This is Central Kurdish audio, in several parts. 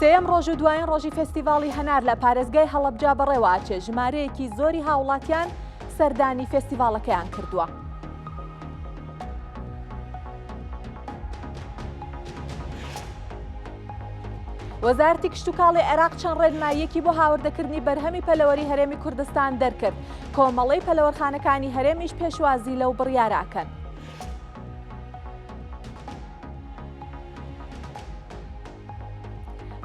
سێیەم ڕۆژ و دوایین ڕۆژی فستیڤاڵی هەنار لە پارێزگای هەڵەبجا بەڕێواچێ ژمارەیەکی زۆری هاوڵاتیان سەردانی فستیڤاڵەکەیان کردووە. وەزارتی کشتتوکاڵی عێراق چەند ڕێنماییەکی بۆ هاوردەکردنی بەرهەمی پەلەوەری هەرێمی کوردستان دەرکرد کۆمەڵەی پەلەوەرخانەکانی هەرێمیش پێشوازی لەو بڕیاراکەن.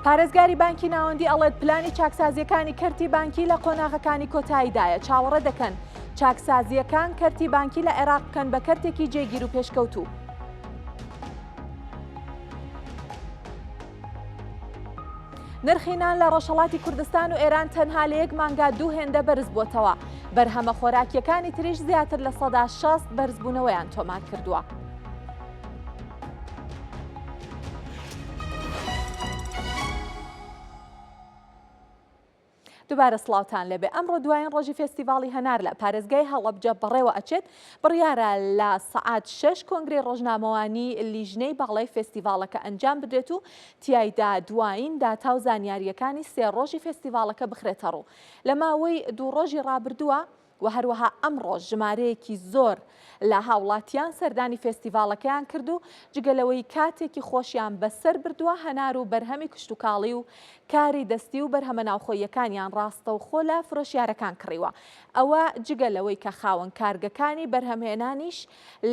پارێزگاری بانکی ناوەندی ئەڵێت پلانی چاکسازیەکانی کەرتی بانکی لە قۆناغەکانی کۆتاییدایە چاوەڕێ دەکەن چاکسازیەکان کەرتی بانکی لە عێراق بکەن بە کەرتێکی جێگیر و پێشکەوتوو. نرخی نان لە ڕۆژهەڵاتی کوردستان و ئێران تەنها لە یەک مانگا دوو هێندە بەرز بووەتەوە، بەرهەمە خۆراکیەکانی تریش زیاتر لە سەدا شەست بەرزبوونەوەیان تۆمار کردووە. دوبارە سڵاوتان لێبێ ئەمڕۆ دوایین ڕۆژی فێستیڤاڵی هەنار لە پارێزگای هەڵەبجە بەڕێوە ئەچێت بڕیارە لە سەعات شەش کۆنگرەی ڕۆژنامەوانی لیژنەی باڵای فێستیڤاڵەکە ئەنجام بدرێت و تیایدا دوایین داتا و زانیاریەکانی سێ ڕۆژی فێستیڤاڵەکە بخرێتە ڕوو لە ماوەی دوو ڕۆژی ڕابردووە و هەروەها ئەمڕۆ ژمارەیەکی زۆر لە هاوڵاتیان سەردانی فێستیڤاڵەکەیان کرد و جگە لەوەی کاتێکی خۆشیان بەسەر بردووە هەنار و بەرهەمی کشتوکاڵی و کاری دەستی و بەرهەمە ناوخۆییەکانیان ڕاستەوخۆ لە فرۆشیارەکان کڕیوە ئەوە جگە لەوەی کە خاوەن کارگەکانی بەرهەمهێنانیش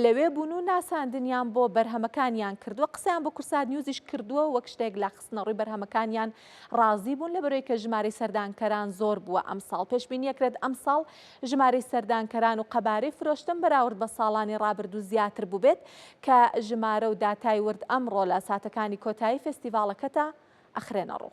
لەوێ بوون و ناساندنیان بۆ بەرهەمەکانیان کردووە قسەیان بۆ کورسات نیوزیش کردووە وەک شتێک لە بەخستنەڕووی بەرهەمەکانیان ڕازی بوون لەبەرەوەی کە ژمارەی سەردانکەران زۆر بووە ئەمساڵ پێشبینیەکرێت ئەمساڵ ژمارەی سەردانکەران و قەبارەی فرۆشتن بەراورد بە ساڵانی ڕابردوو زیاتر بووبێت کە ژمارە و داتای ورد ئەمڕۆ لە ساتەکانی کۆتایی فێستیڤاڵەکەتا ئەخرێنەڕوو.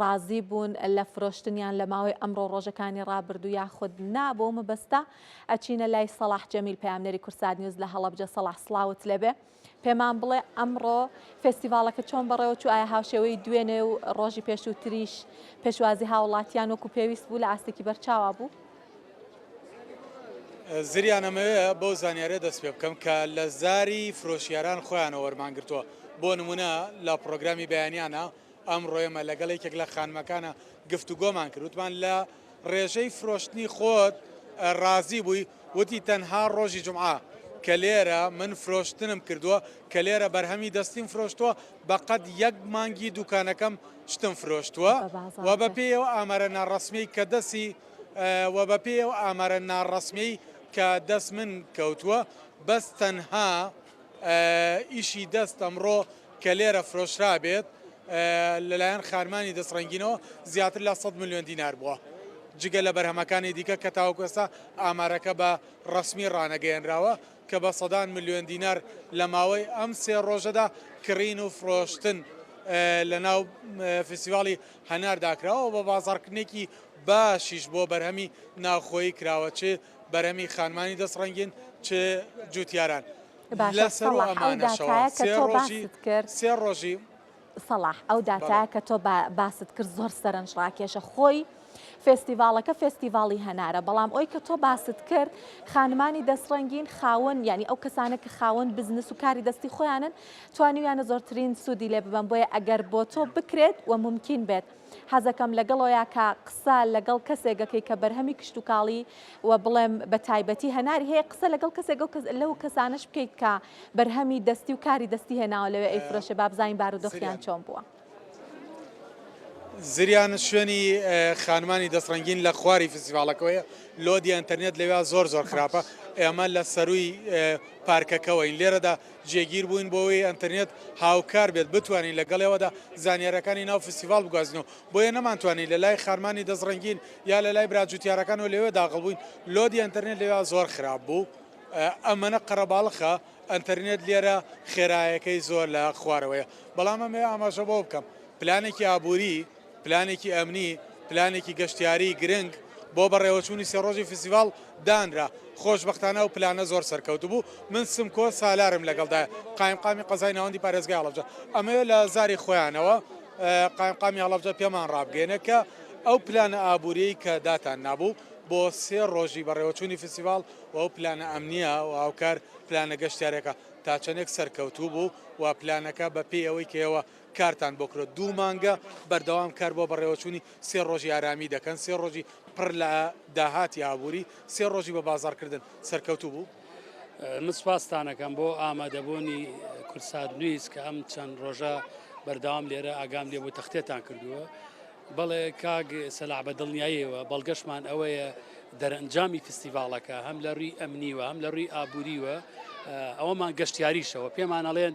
ڕازی بوون لە فرۆشتنیان لە ماوەی ئەمڕۆ ڕۆژەکانی ڕابردوو یاخود نا بۆ مەبەستە ئەچینە لای سەڵاح جەمیل پەیامنەری کورسات نیوز لە هەڵەبجە سەڵاح سڵاوت لەبێ پێمان بڵێ ئەمڕۆ فستیڤالەکە چۆن بەڕێوە چوو ئایا هاوشێوەی دوێنێ و ڕۆژی پێشووتریش پێشوازی هاوڵاتیان وەکو پێویست بوو لە ئاستێکی بەرچاوا بوو. زریانەمەوێ بەو زانیارە دەست پێ بکەم کە لە زاری فرۆشیاران خۆیانە وەرمانگرتووە بۆ نمونە لە پرۆگرامی بەیانیانە ئەمڕۆ ئێمە لەگەڵ یەکێک لە خانمەکانە گفتوگۆمان کرد، وتمان لە ڕێژەی فرۆشتنی خۆت ڕازی بووی؟ وتی تەنها ڕۆژی جومعە کە لێرە من فرۆشتنم کردووە، کە لێرە بەرهەمی دەستیم فرۆشتووە، بە قەد یەک مانگی دوکانەکەم شتم فرۆشتووە و بە پێی ئەو ئامارە ناڕەسمیەی کە دەسی و بە پێی ئەو ئامارە ناڕەسمیەی کە دەست من کەوتووە، بەس تەنها. ئیشی دەست ئەمڕۆ کە لێرە فرۆشرابێت لەلایەن خانمانی دەستڕەنگینەوە زیاتر لە سەد ملیۆن دینار بووە، جگە لە بەرهەمەکانی دیکە کە تاوەکو ئێستا ئامارەکە بە ڕەسمی ڕانەگەیەنراوە کە بە سەدان ملیۆن دینار لە ماوەی ئەم سێ ڕۆژەدا کڕین و فرۆشتن لەناو فیستیڤاڵی هەناردا کراوە و بە بازاڕکردنێکی باشیش بۆ بەرهەمی ناوخۆیی کراوە چ بەرەمی خانمانی دەست ڕەنگین چ جوتیاران لە سەر و ئەمانەشەوە سێ ڕۆژی سێ ڕۆژی سەڵاح ئەو داتایە کە تۆ باست کرد زۆر سەرنج ڕاکێشە خۆی فستیڤالەکە فستیڤاڵی هەنارە بەڵام ئەوی کە تۆ باست کرد خانمانی دەستڕەنگین خاون ینی ئەو کەسانە کە خاون بزنس و کاری دەستی خۆیانن توانیویانە زۆرترین سوودی لێ ببم بۆیە ئەگەر بۆ تۆ بکرێت و ممکن بێت. حەزەکەم لەگەڵۆیا کە قسە لەگەڵ کەسێک گەکەی کە بەرهەمی کشتوکاڵی وە بڵێم بە تایبەتی هەناری هەیە قسە لەگەڵ کەسێک گەو کەس لەو کەسانەش بکەیت کە بەرهەمی دەستی و کاری دەستی هێناوە لەوێ ئەی فرۆشێ با بزانین بارودۆخیان چۆن بووە. زریان شوێنی خانمانی دەست ڕەنگین لە خواری فیستیڤاڵەکەوەیە لۆدی ئەنتەرنێت لەوێ زۆر زۆر خراپە باش. ئێمە لە سەرووی پارکەکەوەین لێرەدا جێگیر بووین بۆ ئەوەی ئەنتەرنێت هاوکار بێت بتوانین لە گەڵیەوەدا زانیاریەکانی ناو فستیڤاڵ بگوازینەوە بۆیە نەمانتوانی لە لای خانمانی دەست ڕەنگین یا لە لای برا جوتیارەکانەوە لەوێ داغڵ بووین لۆدی ئەنتەرنێت لەوێ زۆر خراپ بوو ئەمەە قەرەباڵخە ئەنتەرنێت لێرە خێرایەکەی زۆر لە خوارەوەیە بەڵام ئەمێ ئاماژە بۆ بکەم پلانێکی ئابووری پلانێکی ئەمنی، پلانێکی گەشتیاریی گرنگ بۆ بەڕێوەچوونی سێ ڕۆژی فیستیڤاڵ دانرا، خۆشبەختانە ئەو پلانە زۆر سەرکەوتوو بوو، من سمکۆ سالارم لەگەڵدایە، قایمقامی قەزای ناوەندی پارێزگای هەڵەبجە، ئەمەوێت لە زاری خۆیانەوە قایمقامی هەڵەبجە پێمان ڕابگەیەنێت کە ئەو پلانە ئابوورییەی کە داتاننابوو بۆ سێ ڕۆژی بەڕێوەچوونی فیستیڤاڵ و ئەو پلانە ئەمنییە و هاوکار پلانە گەشتیارییەکە تا چەندێک سەرکەوتوو بوو و پلانەکە بەپێی ئەوەی کە ئێوە کارتان بۆ کرۆ دوو مانگە بەردەوام کار بۆ بەڕێوەچوونی سێ ڕۆژی ئارامی دەکەن سێ ڕۆژی پڕ لە داهاتی ئابووری سێ ڕۆژی بە بازاڕکردن سەرکەوتوو بوو؟ من سپاستانەکەم بۆ ئامادەبوونی کورسات نویس کە ئەم چەند ڕۆژە بەردەوام لێرە ئاگام لێ بوو تەختێتان کردووە بەڵێ کاگ سەلا بە دڵنیاییەوە بەڵگەشمان ئەوەیە دەرەنجامی فستیڤالەکە هەم لە ڕووی ئەمنیوە هەم لە ڕووی ئابووریوە ئەوەمان گەشتیاریشەوە پێمانەڵێن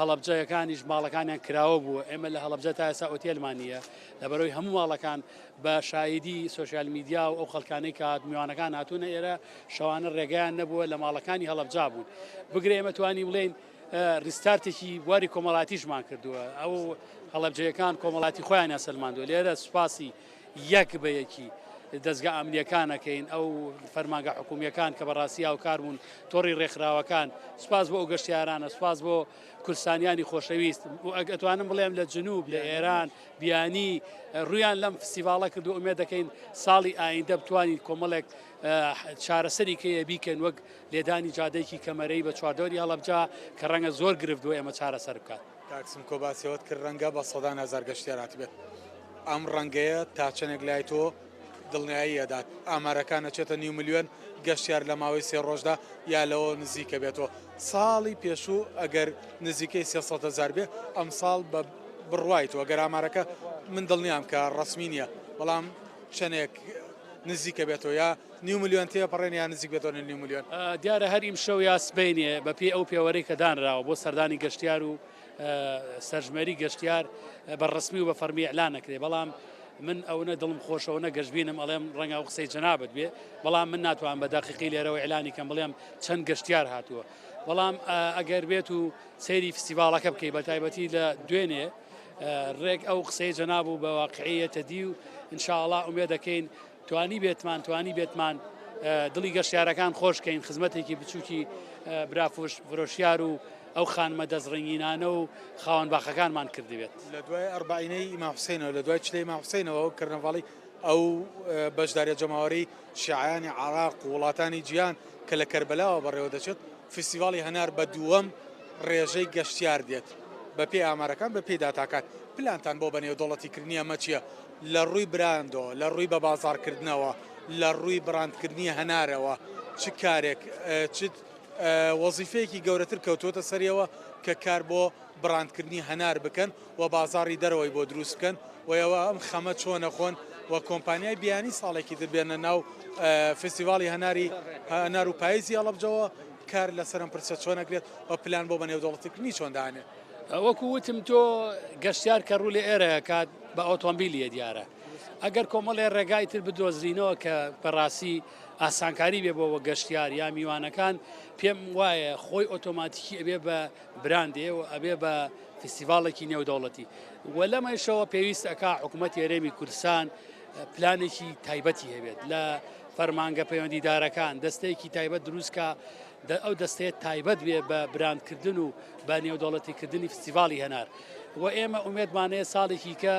هەڵەبجەکانیش ماڵەکانیان کراوە بوو ئێمە لە هەڵبجە تا ئێسا ئۆتێلمان نیە لەبەرەوەی هەموو ماڵەکان بە شایدی سوسیال میدیا و ئەو خەڵکانەی کات میوانەکان هاتوونە ئێرە شەوانە ڕێگەیان نەبووە لە ماڵەکانی هەڵبجا بوون بگرێ ئێمە توانی بڵێن ریستارتێکی بواری کۆمەڵاتیشمان کردووە ئەو هەڵبجەکان کۆمەڵاتی خۆیان سلماندو لێرە سوپاسی یەک بە یەکی دەزگا ئەمنیەکان ئەکەین ئەو فەرمانگە حکومیەکان کە بەڕاستی هاوکار بوون تۆڕی ڕێکخراوەکان سپاس بۆ ئەو گەشتیارانە سپاس بۆ کورسانیانی خۆشەویست و ئەگەتوانم بڵێم لە جنوب لە ئێران بیانی ڕویان لەم فستیڤاڵە کردو ئومێ دەکەین ساڵی ئایندە بتوانین کۆمەڵێک چارەسەری کەیە بیکەن وەک لێدانی جادەیەکی کەمەرەی بە چواردەوەری هەڵەبجا کە ڕەنگە زۆر گرفت بۆ ئێمە چارەسەر بکات. کاک سمکۆ باسی ئەوەت کرد ڕەنگە بە سەدان هەزار گەشتیار هاتبێت ئەم ڕەنگەیە تا چەندێک لای تۆ دڵنیایی ئەدات ئامارەکان ئەچێتە نیو ملیۆن گەشتیار لە ماوەی سێ ڕۆژدا یا لەوە نزیکە بێتەوە ساڵی پێشوو ئەگەر نزیکەی سێ سەد هەزار بێ ئەمساڵ بە بڕوای تۆ ئەگەر ئامارەکە من دڵنیام کە ڕەسمی نییە بەڵام چەندێک نزیکە بێتەوە یا نیو ملیۆن تێپەڕێن یان نزیک بێتەوە نیو ملیۆن. دیارە هەر ئیمشەو یا سبەینێ بە پێی ئەو پێوەرەی کە دانراوە بۆ سەردانی گەشتیار و سەرژمێری گەشتیار بە ڕسمی و بە فەرمی ئیعلان نەکرێ بەڵام من ئەونە دڵم خۆشەوە نە گەشتبینم ئەڵێم ڕەنگە ئەو قسەی جەنابت بێ بەڵام من ناتوان بە دەقیقی لێرەوە ئیلانی کەم بڵێم چەند گەشتیار هاتووە بەڵام ئەگەر بێت و سەیری فستیڤالەکە بکەی بە تایبەتی لە دوێنێ ڕێک ئەو قسەی جەناب و بە واقعەتە دی و انشاءڵا ئومێ دەکەین توانیبێتمان توانیبێتمان دڵی گەشتیارەکان خۆش کەین خزمەتێکی بچووکی برافوش فرۆشیار و ئەو خانمە دەستڕنگینانە و خاوەن باخەکانمان کردبێت لە دوای ئەربعینەی ئیماحسینەوە لە دوای چلەی ماحسینەوە و کردنەواڵی ئەو بەشدارە جەماوەری شیعانی عراق و وڵاتانی جیان کە لە کەربلاوە بەڕێوە دەچێت فیسیڤاڵی هەنار بە دووەم ڕێژەی گەشتیار دێت بەپی ئامارەکان بەپی داتاکات پلانتان بۆ بەنێو دەوڵەتی کردنی ئەمە چییە؟ لە ڕووی براندەوە، لە ڕووی بەبازاڕکردنەوە، لە ڕووی بڕاندکردنی هەنارەوە چ کارێک، چ وەزیفەیەکی گەورەتر کەوتووەتە سەریەوە کە کار بۆ بڕاندکردنی هەنار بکەن و بازاڕی دەرەوەی بۆ دروست بکەن و ئێوە ئەم خەمە چۆن نەخۆن و کۆمپانیای بیانی ساڵێکی تر بێنە ناو فستیڤاڵی هەناری هەنار و پایزی هەڵەبجەوە کار لەسەر ئەم پرسە چۆن ئەکرێت و پلان بۆ بەنێودەوڵەتیکردنی چۆن دانێن؟ وەکو وتم تۆ گەشتیار کە ڕوو لە ئێرە کات بە ئۆتۆمبیلیە دیارە ئەگەر کۆمەڵێ ڕێگای تر بدۆزرینەوە کە بەڕاستی ئاسانکاری بێ بۆ وە گەشتیار یا میوانەکان پێم وایە خۆی ئۆتۆماتیکی ئەبێ بە براندێ و ئەبێ بە فستیڤالێکی نێودەوڵەتی و لەمەشەوە پێویست ئەک حکوومەت یارێمی کوردستان پلانێکی تایبەتی هەبێت لە فەرمانگە پەیوەندیدارەکان دەستەیەکی تایبەت دروستکە ئەو دەستەیە تایبەت بێ بە براندکردن و بە نێودەوڵەتیکردنی فستیڤاڵی هەنار و ئێمە ئومێدمانەیە ساڵێکی کە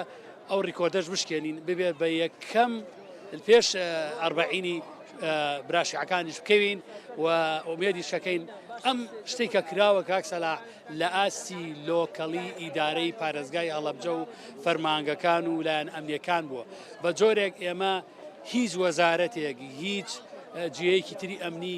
ئەو ڕیکۆردەش بشکێنین ببێت بە یەکەم پێش ئەربعینی براشعەکانیش بکەوین و ئومێدی شەکەین ئەم شتێک کە کراوە کاکسەلا لە ئاستی لۆکەڵی ئیدارەی پارێزگای هەڵەبجە و فەرمانگەکان و لایەن ئەمنیەکان بووە بە جۆرێک ئێمە هیچ وەزارەتێک هیچ جیەیەکی تری ئەمنی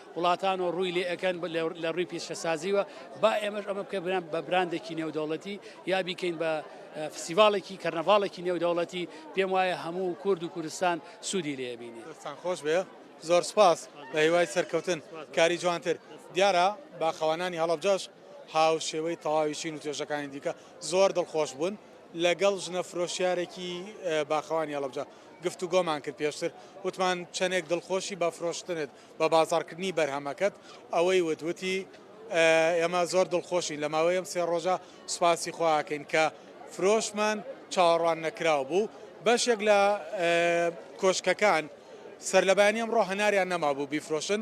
وڵاتان و ڕووی لێ ئەکەن لە ڕووی پیشەسازیوە با ئێمەش ئەمە بکە بران بە براندێکی نێودەوڵەتی یا بیکەین بە فسیڤالێکی کەرنەڤاڵێکی نێودەوڵەتی پێم وایە هەموو کورد و کوردستان سوودی لێبینی دەستان خۆش بێ زۆر سپاس بە هیوای سەرکەوتن کاری جوانتر دیارە باخەوانانی هەڵبجەش هاو شێوەی تەواوی چین و توێژەکانی دیکە زۆر دڵخۆش بوون لەگەڵ ژنە فرۆشیارێکی باخەوانی هەڵبجە گفتوگۆمان کرد پێشتر وتمان چەندێک دڵخۆشی بە فرۆشتنت بە بازاڕکردنی بەرهەمەکەت ئەوەی وت وتی ئێمە زۆر دڵخۆشین لە ماوەی ئەم سێ ڕۆژە سوپاسی خواکەین کە فرۆشمان چاوەڕوان نەکراو بوو بەشێک لە کۆشکەکان سەر لە بەیانی ئەمڕۆ هەناریان نەمابوو بیفرۆشن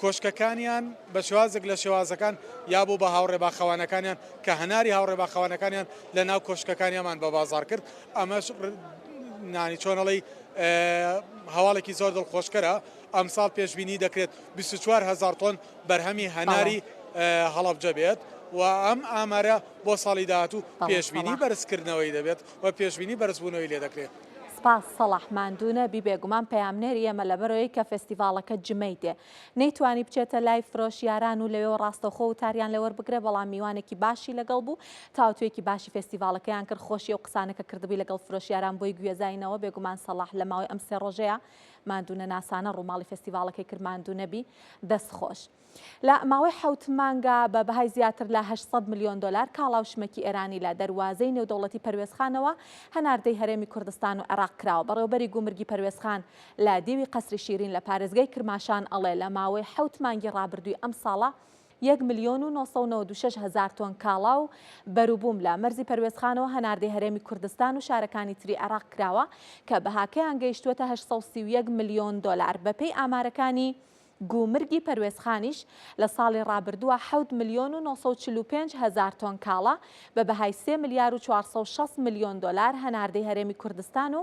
کۆشکەکانیان بە شوازێک لە شێوازەکان یا بوو بە هاوڕێ باخەوانەکانیان کە هەناری هاوڕێ باخەوانەکانیان لە ناو کۆشکەکانیامان بە بازار کرد ئەمەش نانی چۆن ئەڵێی هەواڵێکی زۆر دڵخۆشکەرە ئەمساڵ پێشببینی دەکرێت 24 هزار تۆن بەرهەمی هەناری هەڵەبجە بێت و ئەم ئامارە بۆ ساڵی داهاتوو پێشببینی بەرزکردنەوەی دەبێت و پێشببینی بەرزبوونەوەی لێ دەکرێت. سپاس سەڵاح ماندوو نەبی بێگومان پەیامنێری ئێمە لەبەرەوەی کە فێستیڤاڵەکە جمەی دێ نەیتوانی بچێتە لای فرۆشیاران و لەوێوە ڕاستەوخۆ وتاریان لێ وەربگرێ، بەڵام میوانێکی باشی لەگەڵ بوو، تاوتوێکی باشی فێستیڤاڵەکەیان کرد، خۆشی ئەو قسانە کە کردبووی لەگەڵ فرۆشیاران بۆی گوێزاینەوە، بێگومان سەڵاح لە ماوەی ئەم سێ ڕۆژەیا ماندوونەناسانە ڕووماڵی فێستیڤاڵەکەی کرد، ماندوو نەبی، دەست خۆش. لە ماوەی حەوت مانگا بە بەهای زیاتر لە هەشت سەد ملیۆن دۆلار کاڵا و شمەکی ئێرانی لە دەروازەی نێودەوڵەتی پەروێزخانەوە هەناردەی هەرێمی کوردستان و عێراق کراوە، بەڕێوەبەری گومرگی پەروێزخان لە دیوی قەسری شیرین لە پارێزگای کرماشان ئەڵێ لە ماوەی حەوت مانگی ڕابردووی ئەم ساڵە یەک ملیۆن و نۆ سەد و نەوەد و شەش هەزار تۆن کاڵا و بەروبووم لە مەرزی پەروێزخانەوە هەناردەی هەرێمی کوردستان و شارەکانی تری عێراق کراوە کە بەهاکەیان گەیشتووەتە هەشت سەد و سی و یەک ملیۆن دۆلار بەپێی ئامارەکانی گومرگی پەروێزخانیش لە ساڵی ڕابردووە حەوت ملیۆن و نۆ سەد و چل و پێنج هەزار تۆن کاڵا بە بەهای سێ ملیار و چوار سەد و شەست ملیۆن دۆلار هەناردەی هەرێمی کوردستان و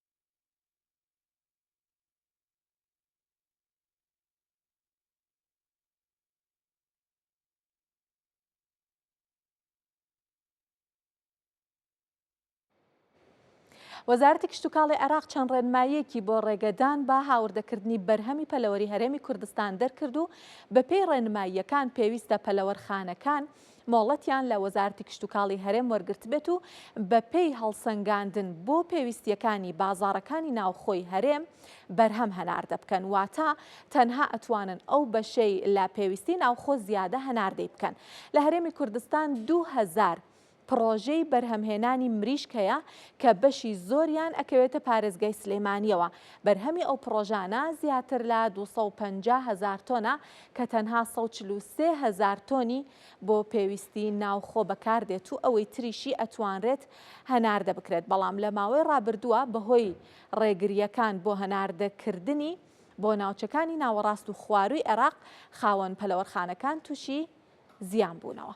وەزارەتی کشتتوکاڵی عێراق چەند ڕێنماییەکی بۆ ڕێگەدان بە هاوردەکردنی بەرهەمی پەلەوەری هەرێمی کوردستان دەرکرد و بەپێی ڕێنماییەکان پێویستە پەلەوەرخانەکان مۆڵەتیان لە وەزارەتی کشتوکاڵی هەرێم وەرگرتبێت و بەپێی هەڵسەنگاندن بۆ پێویستییەکانی بازاڕەکانی ناوخۆی هەرێم بەرهەم هەناردە بکەن، واتە تەنها ئەتوانن ئەو بەشەی لە پێویستی ناوخۆ زیادە هەناردەی بکەن. لە هەرێمی کوردستان دوو هەزار پڕۆژەی بەرهەمهێنانی مریشک هەیە کە بەشی زۆریان ئەکەوێتە پارێزگای سلێمانییەوە، بەرهەمی ئەو پڕۆژانە زیاتر لە دوو سەد و پەنجا هەزار تۆنە کە تەنها سەد و چل و سێ هەزار تۆنی بۆ پێویستی ناوخۆ بەکاردێت و ئەوەی تریشی ئەتوانرێت هەناردە بکرێت، بەڵام لە ماوەی ڕابردووە بەهۆی ڕێگرییەکان بۆ هەناردەکردنی بۆ ناوچەکانی ناوەڕاست و خوارووی عێراق، خاوەن پەلەوەرخانەکان تووشی زیان بوونەوە.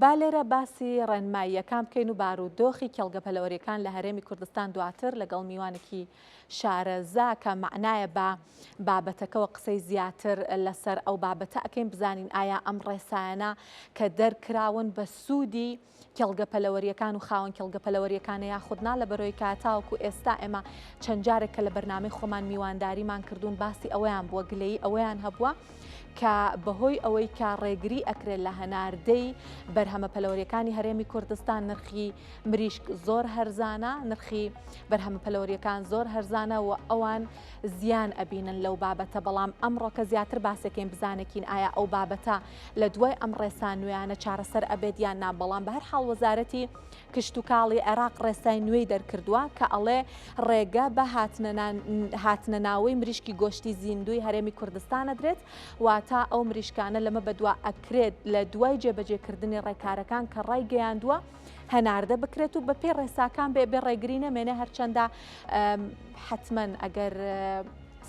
با لێرە باسی ڕێنماییەکان بکەین و بار و دۆخی کێڵگە پەلەوەریەکان لە هەرێمی کوردستان دواتر لەگەڵ میوانێکی شارەزا کە معنایە بە بابەتەکەەوە قسەی زیاتر لەسەر ئەو بابەتە ئەەکەین بزانین ئایا ئەم ڕێسایانە کە دەرکراون بە سوودی کێڵگە پەلەوەریەکان و خاوەن کێڵگە پەلەوەریەکانە یاخود نا لە بەرۆی کا تاوەکو ئێستا ئێمە چەند جارێک کە لە بەرنامەی خۆمان میوانداریمان کردوون باسی ئەویان بووە گلەیی ئەویان هەبووە کە بەهۆی ئەوەی کە ڕێگری ئەکرێت لە هەناردەی بەرهەمە پەلەوەریەکانی هەرێمی کوردستان نرخی مریشک زۆر هەرزانە نرخی بەرهەمە پەلەوەریەکان زۆر هەرزانە و ئەوان زیان ئەبینن لەو بابەتە بەڵام ئەمڕۆکە زیاتر باسەکەین بزانێکین ئایا ئەو بابەتە لە دوای ئەم ڕێسا نوێیانە چارەسەر ئەبێت یان نا بەڵام بە هەر حاڵ وەزارەتی کشتتوکاڵی عێراق ڕێسای نوێی دەرکردووە کە ئەڵێ ڕێگە بە هاتنە ناوەی مریشکی گۆشتی زیندوی هەرێمی کوردستان ئەدرێت واتا ئەو مریشکانە لەمە بەدوا ئەکرێت لە دوای جێبەجێکردنی ڕێکارەکان کە ڕای گەیاندووە هەناردە بکرێت و بە پێ ڕێساکان بێ بێ ڕێگری نەمێنێ هەرچەندە حتمما ئەگەر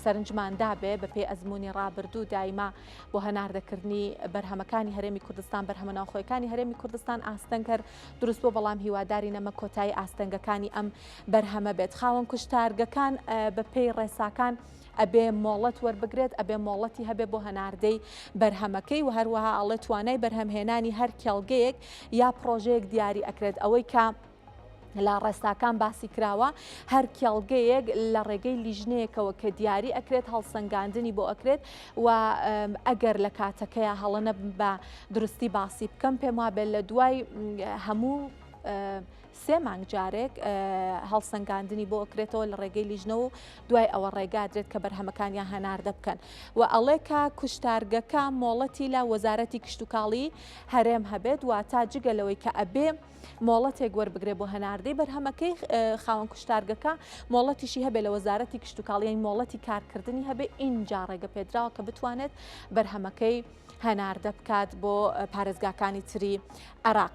سەرنجماندا بێ بە پێی ئەزمموی ڕابردوو دایمە بۆ هەناردەکردنی بەرهەمەکانی هەرێمی کوردستان بەرهەمە ناوخۆیەکانی هەرێمی کوردستان ئاستەنگ هەر دروست بۆ بەڵام هیواداری نەمە کۆتایی ئاستەنگەکانی ئەم بەرهەمە بێت خاوەن کوشتارگەکان بە پێی ڕێساکان ئەبێ مۆڵەت وەربگرێت ئەبێ مۆڵەتی هەبێ بۆ هەناردەی بەرهەمەکەی و هەروەها ئاڵێ توانای بەرهەمهێنانی هەر کێڵگەیەک یا پرۆژەیەک دیاری ئەکرێت ئەوەی کە لە ڕێساکان باسی کراوە هەر کێڵگەیەک لە ڕێگەی لیژنەیەکەوە کە دیاری ئەکرێت هەڵسەنگاندنی بۆ ئەکرێت و ئەگەر لە کاتەکەیە هەڵەنە بە درستی باسی بکەم پێم وابێ لە دوای هەموو سێ مانگ جارێک هەڵسەنگاندنی بۆ ئەکرێتەوە لە ڕێگەی لیژنە و دوای ئەوە ڕێگادرێت کە بەرهەمەکانیان هەناردە بکەن و ئەڵێکا کوشتارگەکە مۆڵەتی لە وەزارەتی کشتتوکاڵی هەرێم هەبێت و تا جگە لەوەی کە ئەبێ مۆڵەتێک وەربگرێ بۆ هەناردەی بەرهەمەکەی خاوەن کوشتارگەکە مۆڵەتیشی هەبێ لە وەزارەتی کشتتوکاڵیان مۆڵەتی کارکردنی هەبێ ئینجا ڕێگە پێدراوە کە بتوانێت بەرهەمەکەی هەناردە بکات بۆ پارێزگاکانی تری عراق.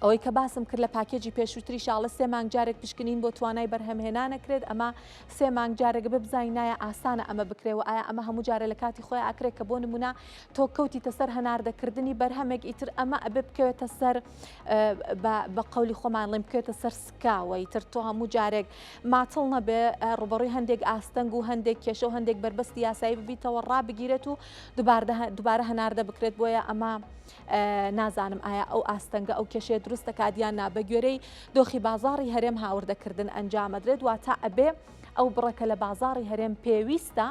ئەوەی کە باسم کرد لە پاکێجی پێشووتری شاڵە سێ مانگ جارێک پشکنین بۆ توانای بەرهەمهێنانەکرێت ئەمە سێ مانگ جارێک ببزای نایە ئاسانە ئەمە بکرێەوە ئایا ئەمە هەموو جارە لە کاتی خۆی ئاکرێت کە بۆ نمونە تۆ کەوتیتە سەر هەناردەکردنی بەرهەمێک ئیتر ئەمە ئەبێ بکەوێتە سەر بە قولی خۆمان ڵێم بکەێتە سەر سکاوە ئیتر تۆ هەموو جارێک ماتڵ نەبێ ڕوبڕی هەندێک ئاستەنگ و هەندێک کێشە و هەندێک بەربەستی یاسایی ببیتەوە ڕابگیرێت و دوبارە هەناردە بکرێت بۆیە ئەمە نازانم ئایا ئەو ئاستەنگە ئەو کێشەیە دروستە کادیان نابەگوێرەی دۆخی بازاری هەرێم هاوردەکردن ئەنجامەدرێت واتە ئەبێ ئەو بڕە کە لە بازاڕی هەرێم پێویستە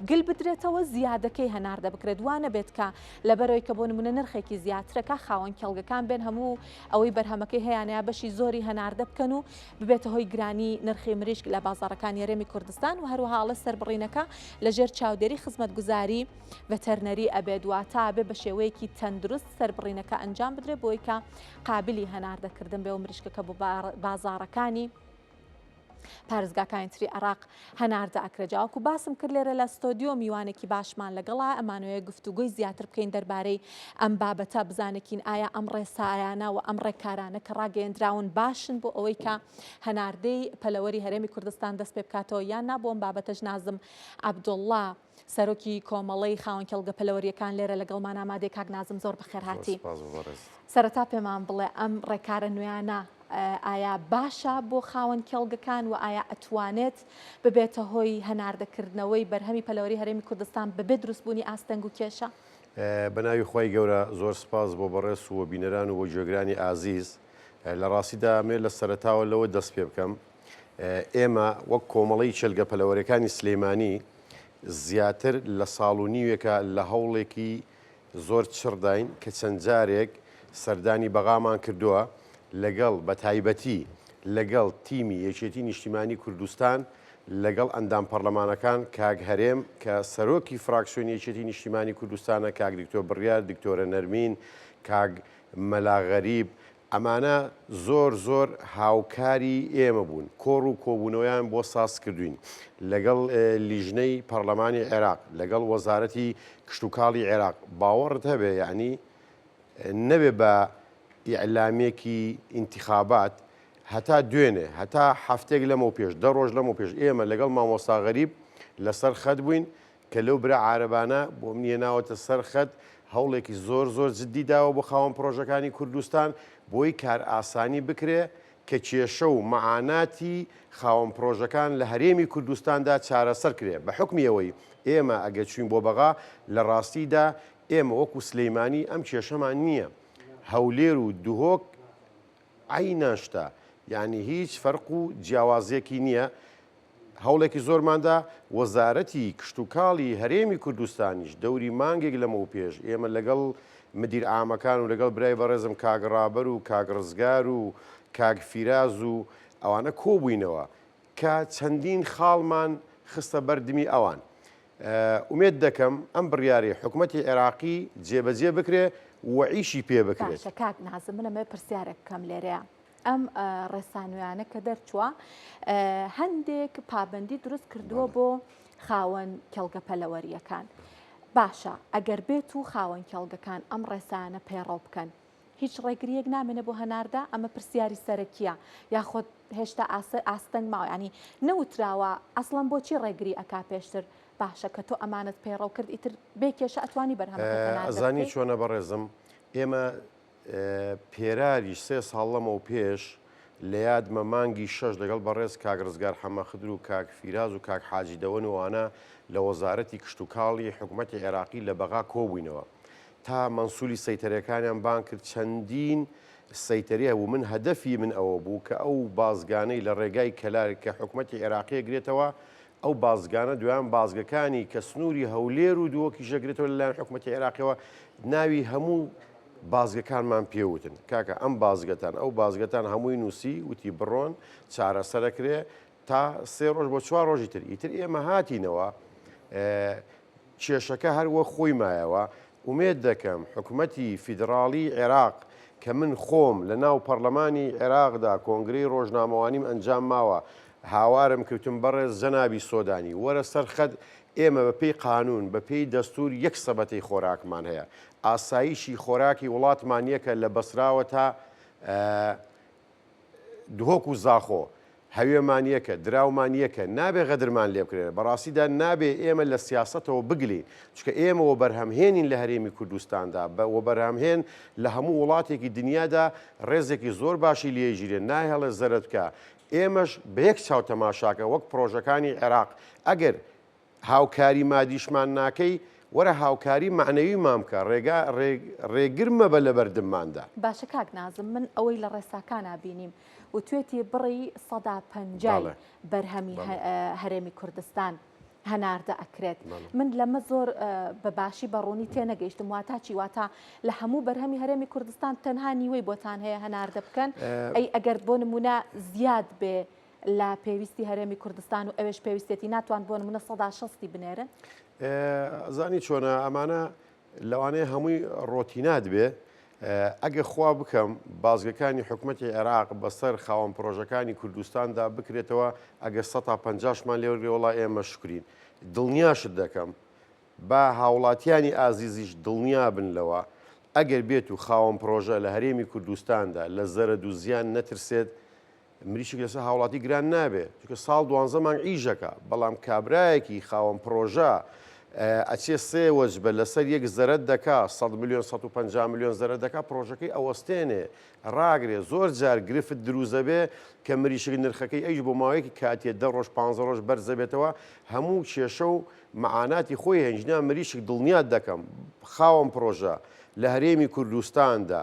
گل بدرێتەوە زیادەکەی هەناردە بکرێت وا نەبێت کە لە بەرەوەی کە بۆ نمونە نرخێکی زیاترەکە خاوەن کێڵگەکان بێن هەموو ئەوەی بەرهەمەکەی هەیەیانە بەشی زۆری هەناردە بکەن و ببێتە هۆی گرانی نرخی مریشک لە بازارەکانی رێمی کوردستان و هەروهاڵە سربڕینەکە لەژێر چاودێری خزمەت گوزاری بەتەرنەری ئەبێت وە تا بێ بە شێوەیەکی تەندروست سربڕینەکە ئەنجام بدرێت بۆی کە قابلی هەناردەکردن بێ و مریشکەکە بۆ بازارەکانی پارێزگاکانی تری عێراق هەناردە ئەکرێ جاوەکو باسم کرد لێرە لە ستۆدیۆ میوانێکی باشمان لەگەڵا ئەمانوێ گفتوگۆی زیاتر بکەین دەربارەی ئەم بابەتە بزانێکین ئایا ئەم ڕێسایانە و ئەم ڕێکارانە کە ڕاگەیەندراون باشن بۆ ئەوەی کە هەناردەی پەلەوەری هەرێمی کوردستان دەست پێ بکاتەوە یان نابووم بابەتەش نازم عبدوڵڵا سەرۆکی کۆمەڵەی خاوەن کێڵگە پەلەوەریەکان لێرە لەگەڵمان ئامادەی کاک نازم زۆر بەخێرهاتی سەرەتا پێمان بڵێ ئەم ڕێکارە نوێیانە ئایا باشە بۆ خاوەن کێڵگەکان و ئایا ئەتوانێت ببێتە هۆی هەناردەکردنەوەی بەرهەمی پەلەوەری هەرێمی کوردستان بەبێ دروستبوونی ئاستەنگ و کێشە بەناوی خی گەورە زۆر سپاس بۆ بەڕێز و بینەران و بۆ گوێگرانی ئازیز لە ڕاستیدا مێ لە سەرتاوە لەوە دەست پێ بکەم ئێمە وەک کۆمەڵەی چێلگە پەلەوەرەکانی سلێمانی زیاتر لە ساڵ و نیوێکە لە هەوڵێکی زۆر چڕداین کە چەند جارێک سەردانی بەغامان کردووە لەگەڵ بە تایبەتی لەگەڵ تیمی یەکێتی نیشتیمانی کوردستان لەگەڵ ئەندام پەرلەمانەکان کاک هەرێم کە سەرۆکی فراکسیۆنی یەکێتی نیشتیمانی کوردستانە کاک دکتۆر بڕیار دکتۆرە نەرمین کاک مەلا غەریب ئەمانە زۆر زۆر هاوکاری ئێمە بوون، کۆڕ و کۆبوونەوەیان بۆ سازکردووین، لەگەڵ لیژنەی پەڕلەمانی عێراق، لەگەڵ وەزارەتی کشتوکاڵی عێراق، باوەڕت هەبێ یەعنی نەبێ بە ئیعلامێکی ئینتیخابات هەتا دوێنێ، هەتا هەفتەیەک لەمەوپێش، دە ڕۆژ لەمەوپێش ئێمە لەگەڵ مامۆستا غەریب لەسەر خەت بووین، کە لەو برا عارەبانە بۆ منی هێناوەتە سەر خەت، هەوڵێکی زۆر زۆر جددی داوە بۆ خاوەن پڕۆژەکانی کوردستان، بۆی کارئاسانی بکرێ کە کێشە و مەعاناتی خاوەن پڕۆژەکان لە هەرێمی کوردستاندا چارەسەر کرێ، بە حوکمی ئەوەی ئێمە ئەگەر چووین بۆ بەغا، لە ڕاستیدا ئێمە وەکوو سلێیمانی ئەم کێشەمان نییە، هەولێر و دهۆک، عەی ناشتا یانی هیچ فەرق و جیاوازیەکی نیە هەوڵێکی زۆرماندا وەزارەتی کشتوکاڵی هەرێمی کوردستانیش دەوری مانگێک لەمەوپێش ئێمە لەگەڵ مدیر عامەکان و لەگەڵ برای بەڕێزم کاک ڕابەر و کاک ڕزگار و کاک فیراز و ئەوانە کۆبووینەوە کە چەندین خاڵمان خستە بەردمی ئەوان ئومێد دەکەم ئەم بڕیارەی حکومەتی عێراقی جێبەجێ بکرێ و ئیشی پێ بکرێت. باشە کاک نازم من ئەمەوێ پرسیارێک بکەم لێرەیا. ئەم ڕێسانوێیانە کە دەرچووە هەندێک پابەندی دروست کردووە بۆ خاوەن کێڵگە پەلەوەرییەکان. باشە ئەگەر بێت و خاوەن کێڵگەکان ئەم ڕێسایانە پەیڕەو بکەن، هیچ ڕێگرییەک نامێنێ بۆ هەناردە؟ ئەمە پرسیاری سەرەکییە یاخۆد هێشتا ئاستەنگ ماوە یانی نەوتراوە ئەسڵەن بۆچی ڕێگری ئەکا پێشتر باشە کە تۆ ئەمانەت پەیڕەو کرد ئیتر بێ کێشە ئەتوانی بەرهەمەکەت هەناردە بکەی؟ ئەزانی چۆنە بەڕێزم ئێمە پێراری سێ ساڵ لەمەو پێش لە یادمە مانگی شەش لەگەڵ بەڕێز کاک ڕزگار حەمەخدر و کاک فیراز و کاک حاجی دەوەن و ئانا لە وەزارەتی کشتوکاڵی حکوومەتی عێراقی لە بەغا کۆبووینەوە تا مەنسولی سەیتەرەکانیان بانگ کرد چەندین سەیتەری هەبوو من هەدەفی من ئەوە بوو کە ئەو بازگانەی لە ڕێگای کەلار کە حکومەتی عێراقی ئەگرێتەوە ئەو بازگانە دویان بازگەکانی کە سنووری هەولێر و دووەکیش ئەگرێتەوە لەلایەن حکومەتی عێراقیەوە ناوی هەموو بازگەکانمان پێوتن کاکە ئەم بازگەتان ئەو بازگەتان هەمووی نووسی وتی بڕۆن چارەسەرەکرێ تا سێ ڕۆژ بۆ چوار ڕۆژی تر ئیتر ئێمە هاتینەوە کێشەکە هەر وەک خۆی مایەوە، ئومێد دەکەم حکومەتی فیدڕاڵیی عێراق کە من خۆم لە ناو پەڕلەمانی عێراقدا کۆنگرەی ڕۆژنامەوانیم ئەنجام ماوە، هاوارم کردتون بەڕێز جەنابی سۆدانی وەرە سەر خەت، ئێمە بە پێی قانون، بە پێی دەستور یەک سەبەتەی خۆراکمان هەیە، ئاسایشی خۆراکی وڵاتمان یەکە لە بەسراوە تا دهۆک و زاخۆ، هەوێمان یەکە، دراومان یەکە، نابێ غەدرمان لێ بکرێ، بەڕاستیدا نابێ ئێمە لە سیاسەتەوە بگلین، چونکە ئێمە وەبەرهەمهێنین لە هەرێمی کوردستاندا، وەبەرهەمهێن لە هەموو وڵاتێکی دنیادا ڕێزێکی زۆر باشی لێیژیرێ، نایهڵێ زەرەدکە، ئێمەش بە یەک چاو تەماشاکە وەک پڕۆژەکانی عێراق، ئەگەر. هاوکاری مادیشمان ناکەی، وەرە هاوکاری مەعنەویمان بکە، ڕێگا ڕێگر مەبە لە بەردمماندا. باشە کاک نازم من ئەوەی لە ڕێساکانا بینیم وتوێتی بڕی سەدا پەنجای بەرهەمی هەرێمی کوردستان هەناردە ئەکرێت من لەمە زۆر بە باشی بە ڕوونی تێ نەگەیشتم واتا چی واتا لە هەموو بەرهەمی هەرێمی کوردستان تەنها نیوەی بۆتان هەیە هەناردە بکەن ئەی ئەگەر بۆ نمونە زیاد بێ لە پێویستی هەرێمی کوردستان و ئەوێش پێویستێتی ناتوان بۆن منە سەدا شەستی بنێرن زانی چۆنە ئەمانە لەوانەیە هەمووی ڕۆتینات بێ ئەگە خوا بکەم بازگەکانی حکوومەتتی عێراق بەسەر خاوەن پرۆژەکانی کوردستاندا بکرێتەوە ئەگە 150مان لێوەگرێ وڵا ئێمە شکرین دڵنیاشت دەکەم با هاوڵاتیانی ئازیزیش دڵنیا بن لەوە ئەگەر بێت و خاوەن پرۆژە لە هەرێمی کوردستاندا لە زەرد و زیان نەترسێت مریشک لەسەر هاوڵاتی گران نابێ چکە ساڵ دوانزە مانگ ئیژەکە بەڵام کابراایەکی خاوەن پرۆژە ئەچێ سێ وەجبە لەسەر یەک زەرت دەکا 100 میلیۆن 150 میلیۆن زەرە دەکا پرۆژەکەی ئەوەستێنێ ڕاگرێ زۆر جار گرفت دروزەبێ کە مریشک نرخەکەی ئەیش بۆ ماوەیەکی کاتیە دە ڕۆژ پ ڕۆژ بەرزەبێتەوە هەموو کێشە و معاناتی خۆی هەنجنا مریشک دڵنیات دەکەم خاوەن پرۆژە لە هەرێمی کوردستاندا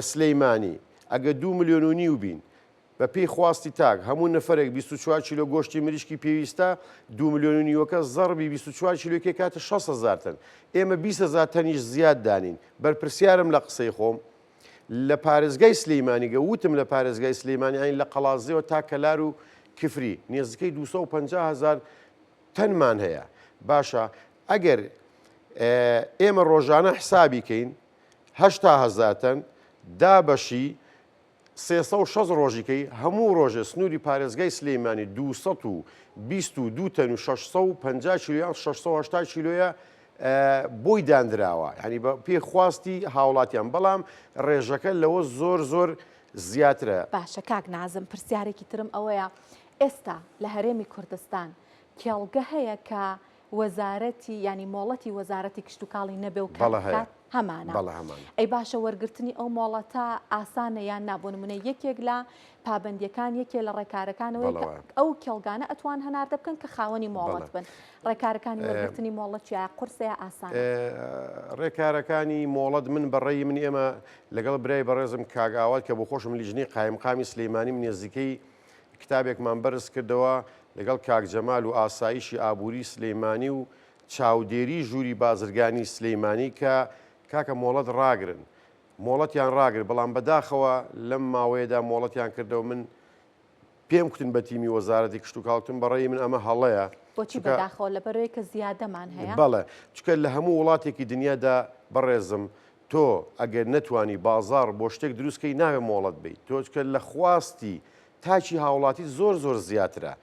سلیمانی، ئەگە دوو ملیۆن و نیو بین، بە پێی خواستی تاک، هەموو نەفەرێک بیست و چوار کیلۆ گۆشتی مریشکی پێویستە، دوو ملیۆن و نیوەکە زەڕبی بیست و چوار کیلۆی کە کاتە شەست هەزار تەن، ئێمە بیست هەزار تەنیش زیاد دانین، بەرپرسیارم لە قسەی خۆم لە پارێزگای سلیمانی گە وتم لە پارێزگای سلیمانی عەین لە قەڵادزێوە تا کەلار و کفری نێزدکەی دوو سەد و پەنجا هەزار تەنمان هەیە، باشە ئەگەر ئێمە ڕۆژانە حسابی کەین، هەشتا هەزار تەن، دابەشی سێ سەد و شەست ڕۆژی کەی، هەموو ڕۆژێ سنووری پارێزگای سلێیمانی دوو سەد و بیست و دوو تەن و شەش سەد و پەنجا کیلۆ یان شەش سەد و هەشتا کیلۆیە بۆی داندراوە، یانی بە پێی خواستی هاوڵاتیان، بەڵام ڕێژەکە لەوە زۆر زۆر زیاترە. باشە کاک نازم پرسیارێکی ترم ئەوەیە ئێستا لە هەرێمی کوردستان کێڵگە هەیە کە وەزارەتی یانی مۆڵەتی وەزارەتی کشتوکاڵی نەبێ و کار بکات هەمانە ئەی باشە وەرگرتنی ئەو مۆڵەتە ئاسانە یان نا بۆ نمونە یەکێک لە پابندیەکان یەکێ لە ڕێکارەکانەوەی ئەو کێڵگانە ئەتوان هەناردە بکەن کە خاوەنی مۆڵەت بن ڕێکارەکانی وەرگرتنی مۆڵەتیا قرسەیە ئاسان ڕێکارەکانی مۆڵەت من بەڕێی من ئێمە لەگەڵ برای بەڕێزم کاگاوات کە بۆ خۆشم لیژنەی قایمقامی سلەیمانیم نێزیکەی کتابێکمان بەرز کردەوە لەگەڵ کاک جەمال و ئاسایشی ئابووری سلیمانی و چاودێری ژووری بازرگانی سلیمانی کە کاکە مۆڵەت ڕاگرن مۆڵەتیان ڕاگر بەڵام بەداخەوە لەم ماوەیەدا مۆڵەتیان کردەوە من پێم کوتن بە تیمی وەزارەتی کشت و کاڵتم بەڕێی من ئەمە هەڵەیە بۆچی بەداخەوە لە بەرەوەی کە زیادەمان هەیە بەڵێ چکە لە هەموو وڵاتێکی دنیادا بەڕێزم تۆ ئەگەر نەتوانی بازاڕ بۆ شتێک دروست کەی ناوێ مۆڵەت بەیت تۆچکە لە خواستی تاکی هاوڵاتی زۆر زۆر زیاترە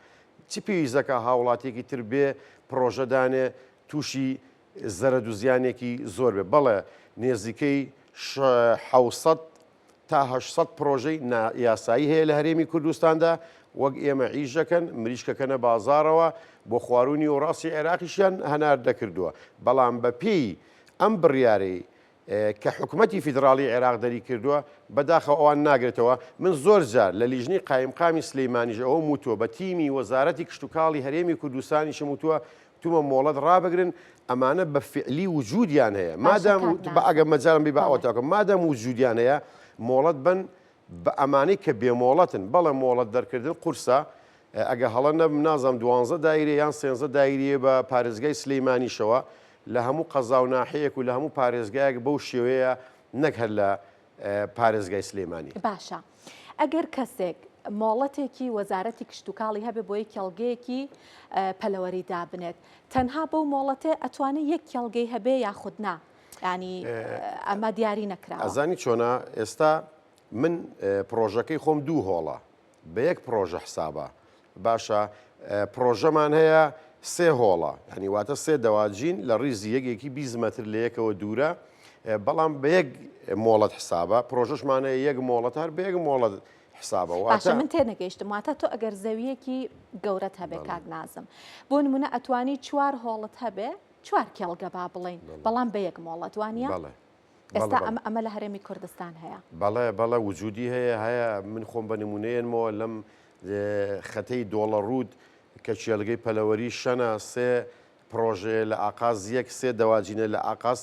چ پێویست دەکا هاوڵاتیەکی تر بێ پرۆژەدانێ تووشی زەرەدوزیانێکی زۆر بێ بەڵێ نێزیکەی حوسەت تا هەشت سەد پڕۆژەی نا یاسایی هەیە لە هەرێمی کوردستاندا، وەک ئێمە عیش دەکەن، مریشکەکەنە بازاڕەوە، بۆ خواروو نیوەڕاستی عێراقیشیان هەنار دەکردووە، بەڵام بە پێی ئەم بڕیارەی کە حکومەتی فیدڕاڵی عێراق دەری کردووە، بە داخەوە ئەوان ناگرێتەوە، من زۆر جار لە لیژنەی قایمقامی سلیمانیش ئەوەم وتووە، بە تیمی وەزارەتی کشتوکاڵی هەرێمی کوردستانیشم وتووە، تومە مۆڵەت ڕابگرن ئەمانە بە فعلی وجودیان هەیە مادام ئەگە مەجارم بی باوەتەکە مادام وجودیان هەیە مۆڵەت بن بە ئەمانەی کە بێ مۆڵەتن بەڵێ مۆڵەت دەرکردن قورسە ئەگە هەڵە نەبم نازانم دوانزە دایرێ یان سێنزە دایریە بە پارێزگای سلەیمانیشەوە لە هەموو قەزا و ناحەیەک و لە هەموو پارێزگایەک بەو شێوەیە نەک هەر لە پارێزگای سلێمانی. باشە ئەگەر کەسێک مۆڵەتێکی وەزارەتی کشتوکاڵی هەبێ بۆ یەک کێڵگەیەکی پەلەوەری دابنێت تەنها بەو مۆڵەتێ ئەتوانێت یەک کێڵگەی هەبێ یاخود نا ینی ئەمە دیاری نەکرا ئەزانی چۆنا ئێستا من پرۆژەکەی خۆم دوو هۆڵە بە یەک پڕۆژە حسابە. باشە پڕۆژەمان هەیە سێ هۆڵە ینی واتە سێ دەواجین لە ڕیزی یەکێکی بیست مەتر لە یەکەوە دوورە بەڵام بە یەک مۆڵەت حسابە پرۆژشمانەیە یەک مۆڵەت هەر بە یەک مۆڵەت حسابەوە من تێ نەگەیشتم واتە تۆ ئەگەر زەویەکی گەورەت هەبێ کاک نازم بۆ نمونە ئەتوانی چوار هۆڵت هەبێ چوار کێڵگە با بڵین بەڵام بە یەک مۆڵەت وانە ئێستا ئەم ئەمە لە هەرێمی کوردستان هەیە بەڵێ بەڵە وجودی هەیە هەیە من خۆم بە نمونەیەنمەوە لەم خەتەی دۆڵە ڕوود کە چێلگەی پەلەوەری شەنا سێ پرۆژەیە لە ئاقاز یەک سێ دەواجینە لە ئاقاس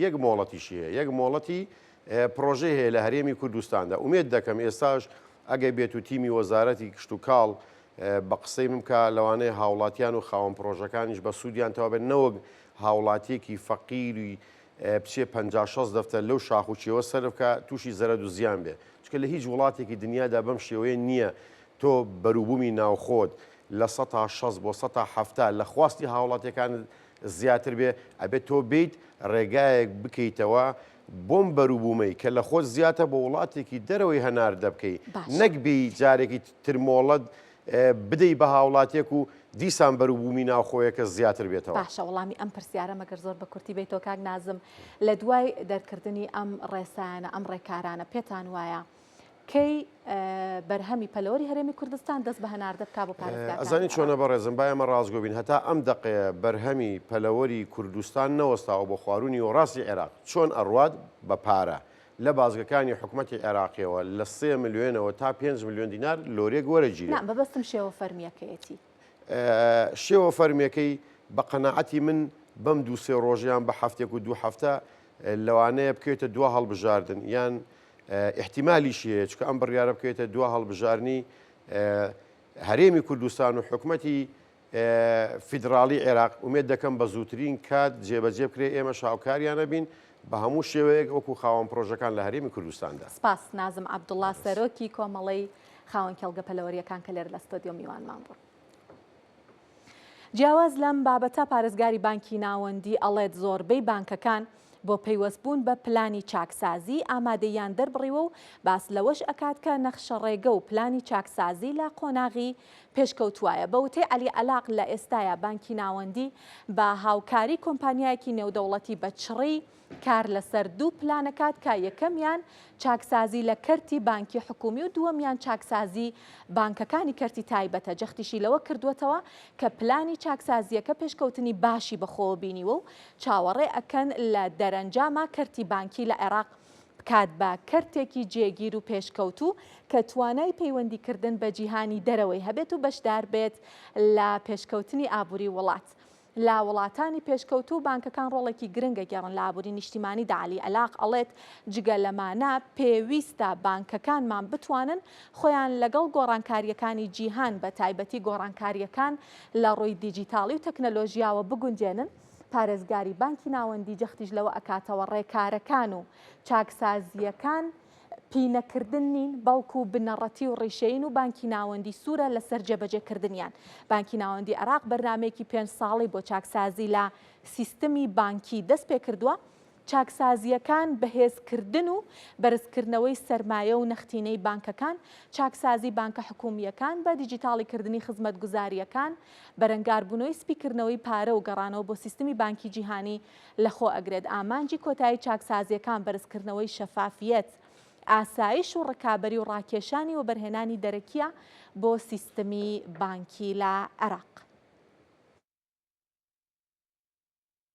یەک مۆڵەتیشی هەیە یەک مۆڵەتی پرۆژەی هەیە لە هەرێمی کوردستاندا ئومێت دەکەم ئێستاش ئەگەی بێت و تیمی وەزارەتی کشت و کاڵ بە قسەی بمکە لەوانەیە هاوڵاتیان و خاوەن پرۆژەکانیش بە سوودیان تەوابێت نەوەک هاوڵاتیەکی فەقیری بچێ پەنجا شەست دەفتەر لەو شاخ و چێوە سەرف کا تووشی زەرەد و زیان بێ چکە لە هیچ وڵاتێکی دنیادا بەم شێوەیە نییە تۆ بەروبوومی ناوخۆت لە سەتا شەست بۆ سەتا حەفتا لە خواستی هاوڵاتیەکانت زیاتر بێ ئەبێت تۆ بیت ڕێگایەک بکەیتەوە بۆم بەروبوومەی کە لە خۆت زیاتە بۆ وڵاتێکی دەرەوەی هەناردە بکەی نەک بی جارێکی ترمۆڵەت بدەی بە هاوڵاتیەک و دیسان بەروبوومی ناوخۆیەکە زیاتر بێتەوە؟ باشە وەڵامی ئەم پرسیارەم ئەگەر زۆر بە کورتی بەیتەوە کاک نازم، لە دوای دەرکردنی ئەم ڕێسایانە ئەم ڕێکارانە پێتان وایە کەی بەرهەمی پەلەوەری هەرێمی کوردستان دەست بە هەناردە بکا بۆ پارێزگاکان؟ ئەزانی چۆنە بەڕێزم با ئێمە ڕاستگۆ بین هەتا ئەم دەقەیە بەرهەمی پەلەوەری کوردستان نەوەستاوە بۆ خواروونی و ڕاستی عێراق چۆن ئەڕوات بە پارە لە بازگەکانی حکومەتی عێراقیەوە لە سێ ملیۆنەوە تا پێنج ملیۆن دینار لۆرێک وەرەگیرێت نا بەبەستم شێوە فەرمیەکەیەتی شێوە فەرمیەکەی بە قەنەعەتی من بەم دوو سێ ڕۆژیان بە هەفتێک و دوو هەفتە لەوانەیە بکەوێتە دو هەڵبژاردن یان احتیمالیشی هەیە چکە ئەم بڕیارە بکەوێتە دو هەڵبژارنی هەرێمی کوردستان و حکومەتی فیدراڵی عێراق، ئومێد دەکەم بە زووترین کات جێبەجێ بکرێت، ئێمەش هاوکاریان ئەبین بە هەموو شێوەیەک وەکو خاوەن پرۆژەکان لە هەرێمی کوردستاندا. سپاس، نازم عەبدوڵا، سەرۆکی کۆمەڵەی خاوەن کێڵگە پەلەوەرییەکان کە لێرە لە ستۆدیۆ میوانمان بوو. جیاواز لەم بابەتە، پارێزگاری بانکی ناوەندی ئەڵێت زۆربەی بانکەکان بۆ پەیوەست بوون بە پلانی چاکسازی ئامادەییان دەربڕیوە و باس لەوەش ئەکات کە نەخشەڕێگە و پلانی چاکسازی لە قۆناغی پێشکەوتوایە بە وتەی عەلی عەلاق لە ئێستایا بانکی ناوەندی بە هاوکاری کۆمپانیایەکی نێودەوڵەتی بە چڕی کار لەسەر دوو پلان ئەکات کە یەکەمیان چاکسازی لە کەرتی بانکی حکومی و دووەمیان چاکسازی بانکەکانی کەرتی تایبەتە جەختیشی لەوە کردووەتەوە کە پلانی چاکسازییەکە پێشکەوتنی باشی بەخۆوە بینیوە و چاوەڕێ ئەکەن لە دەرەنجاما کەرتی بانکی لە عێراق بکات بە کەرتێکی جێگیر و پێشکەوتوو کە توانای پەیوەندیکردن بە جیهانی دەرەوەی هەبێت و بەشدار بێت لە پێشکەوتنی ئابووری وڵات. لە وڵاتانی پێشکەوتوو بانکەکان ڕۆڵێکی گرنگ ئەگێڕن لە ئابووری نیشتیمانیدا عەلی ئەلاق ئەڵێت جگە لەمانە پێویستە بانکەکانمان بتوانن خۆیان لەگەڵ گۆڕانکارییەکانی جیهان بە تایبەتی گۆڕانکارییەکان لە ڕووی دیجیتاڵی و تەکنەلۆژیاوە بگونجێنن پارێزگاری بانکی ناوەندی جەختیش لەوە ئەکاتەوە، ڕێکارەکان و چاکسازییەکان پینەکردن نین، بەڵکو بنەڕەتی و ڕیشەیین و بانکی ناوەندی سوورە لەسەر جێبەجێکردنیان. بانکی ناوەندی عێراق بەرنامەیەکی پێنج ساڵەی بۆ چاکسازی لە سیستمی بانکی دەستپێکردووە، چاکسازییەکان، بەهێزکردن و بەرزکردنەوەی سەرمایە و نەختینەی بانکەکان، چاکسازی بانکە حکوومییەکان بە دیجیتاڵیکردنی خزمەتگوزارییەکان، بەرەنگاربوونەوەی سپیکردنەوەی پارە و گەڕانەوە بۆ سیستمی بانکی جیهانی لەخۆ ئەگرێت، ئامانجی کۆتایی چاکسازییەکان بەرزکردنەوەی شەفافییەت، ئاسایش و ڕکابەری و ڕاکێشانی وەبەرهێنانی دەرەکییە بۆ سیستمی بانکی لە عێراق.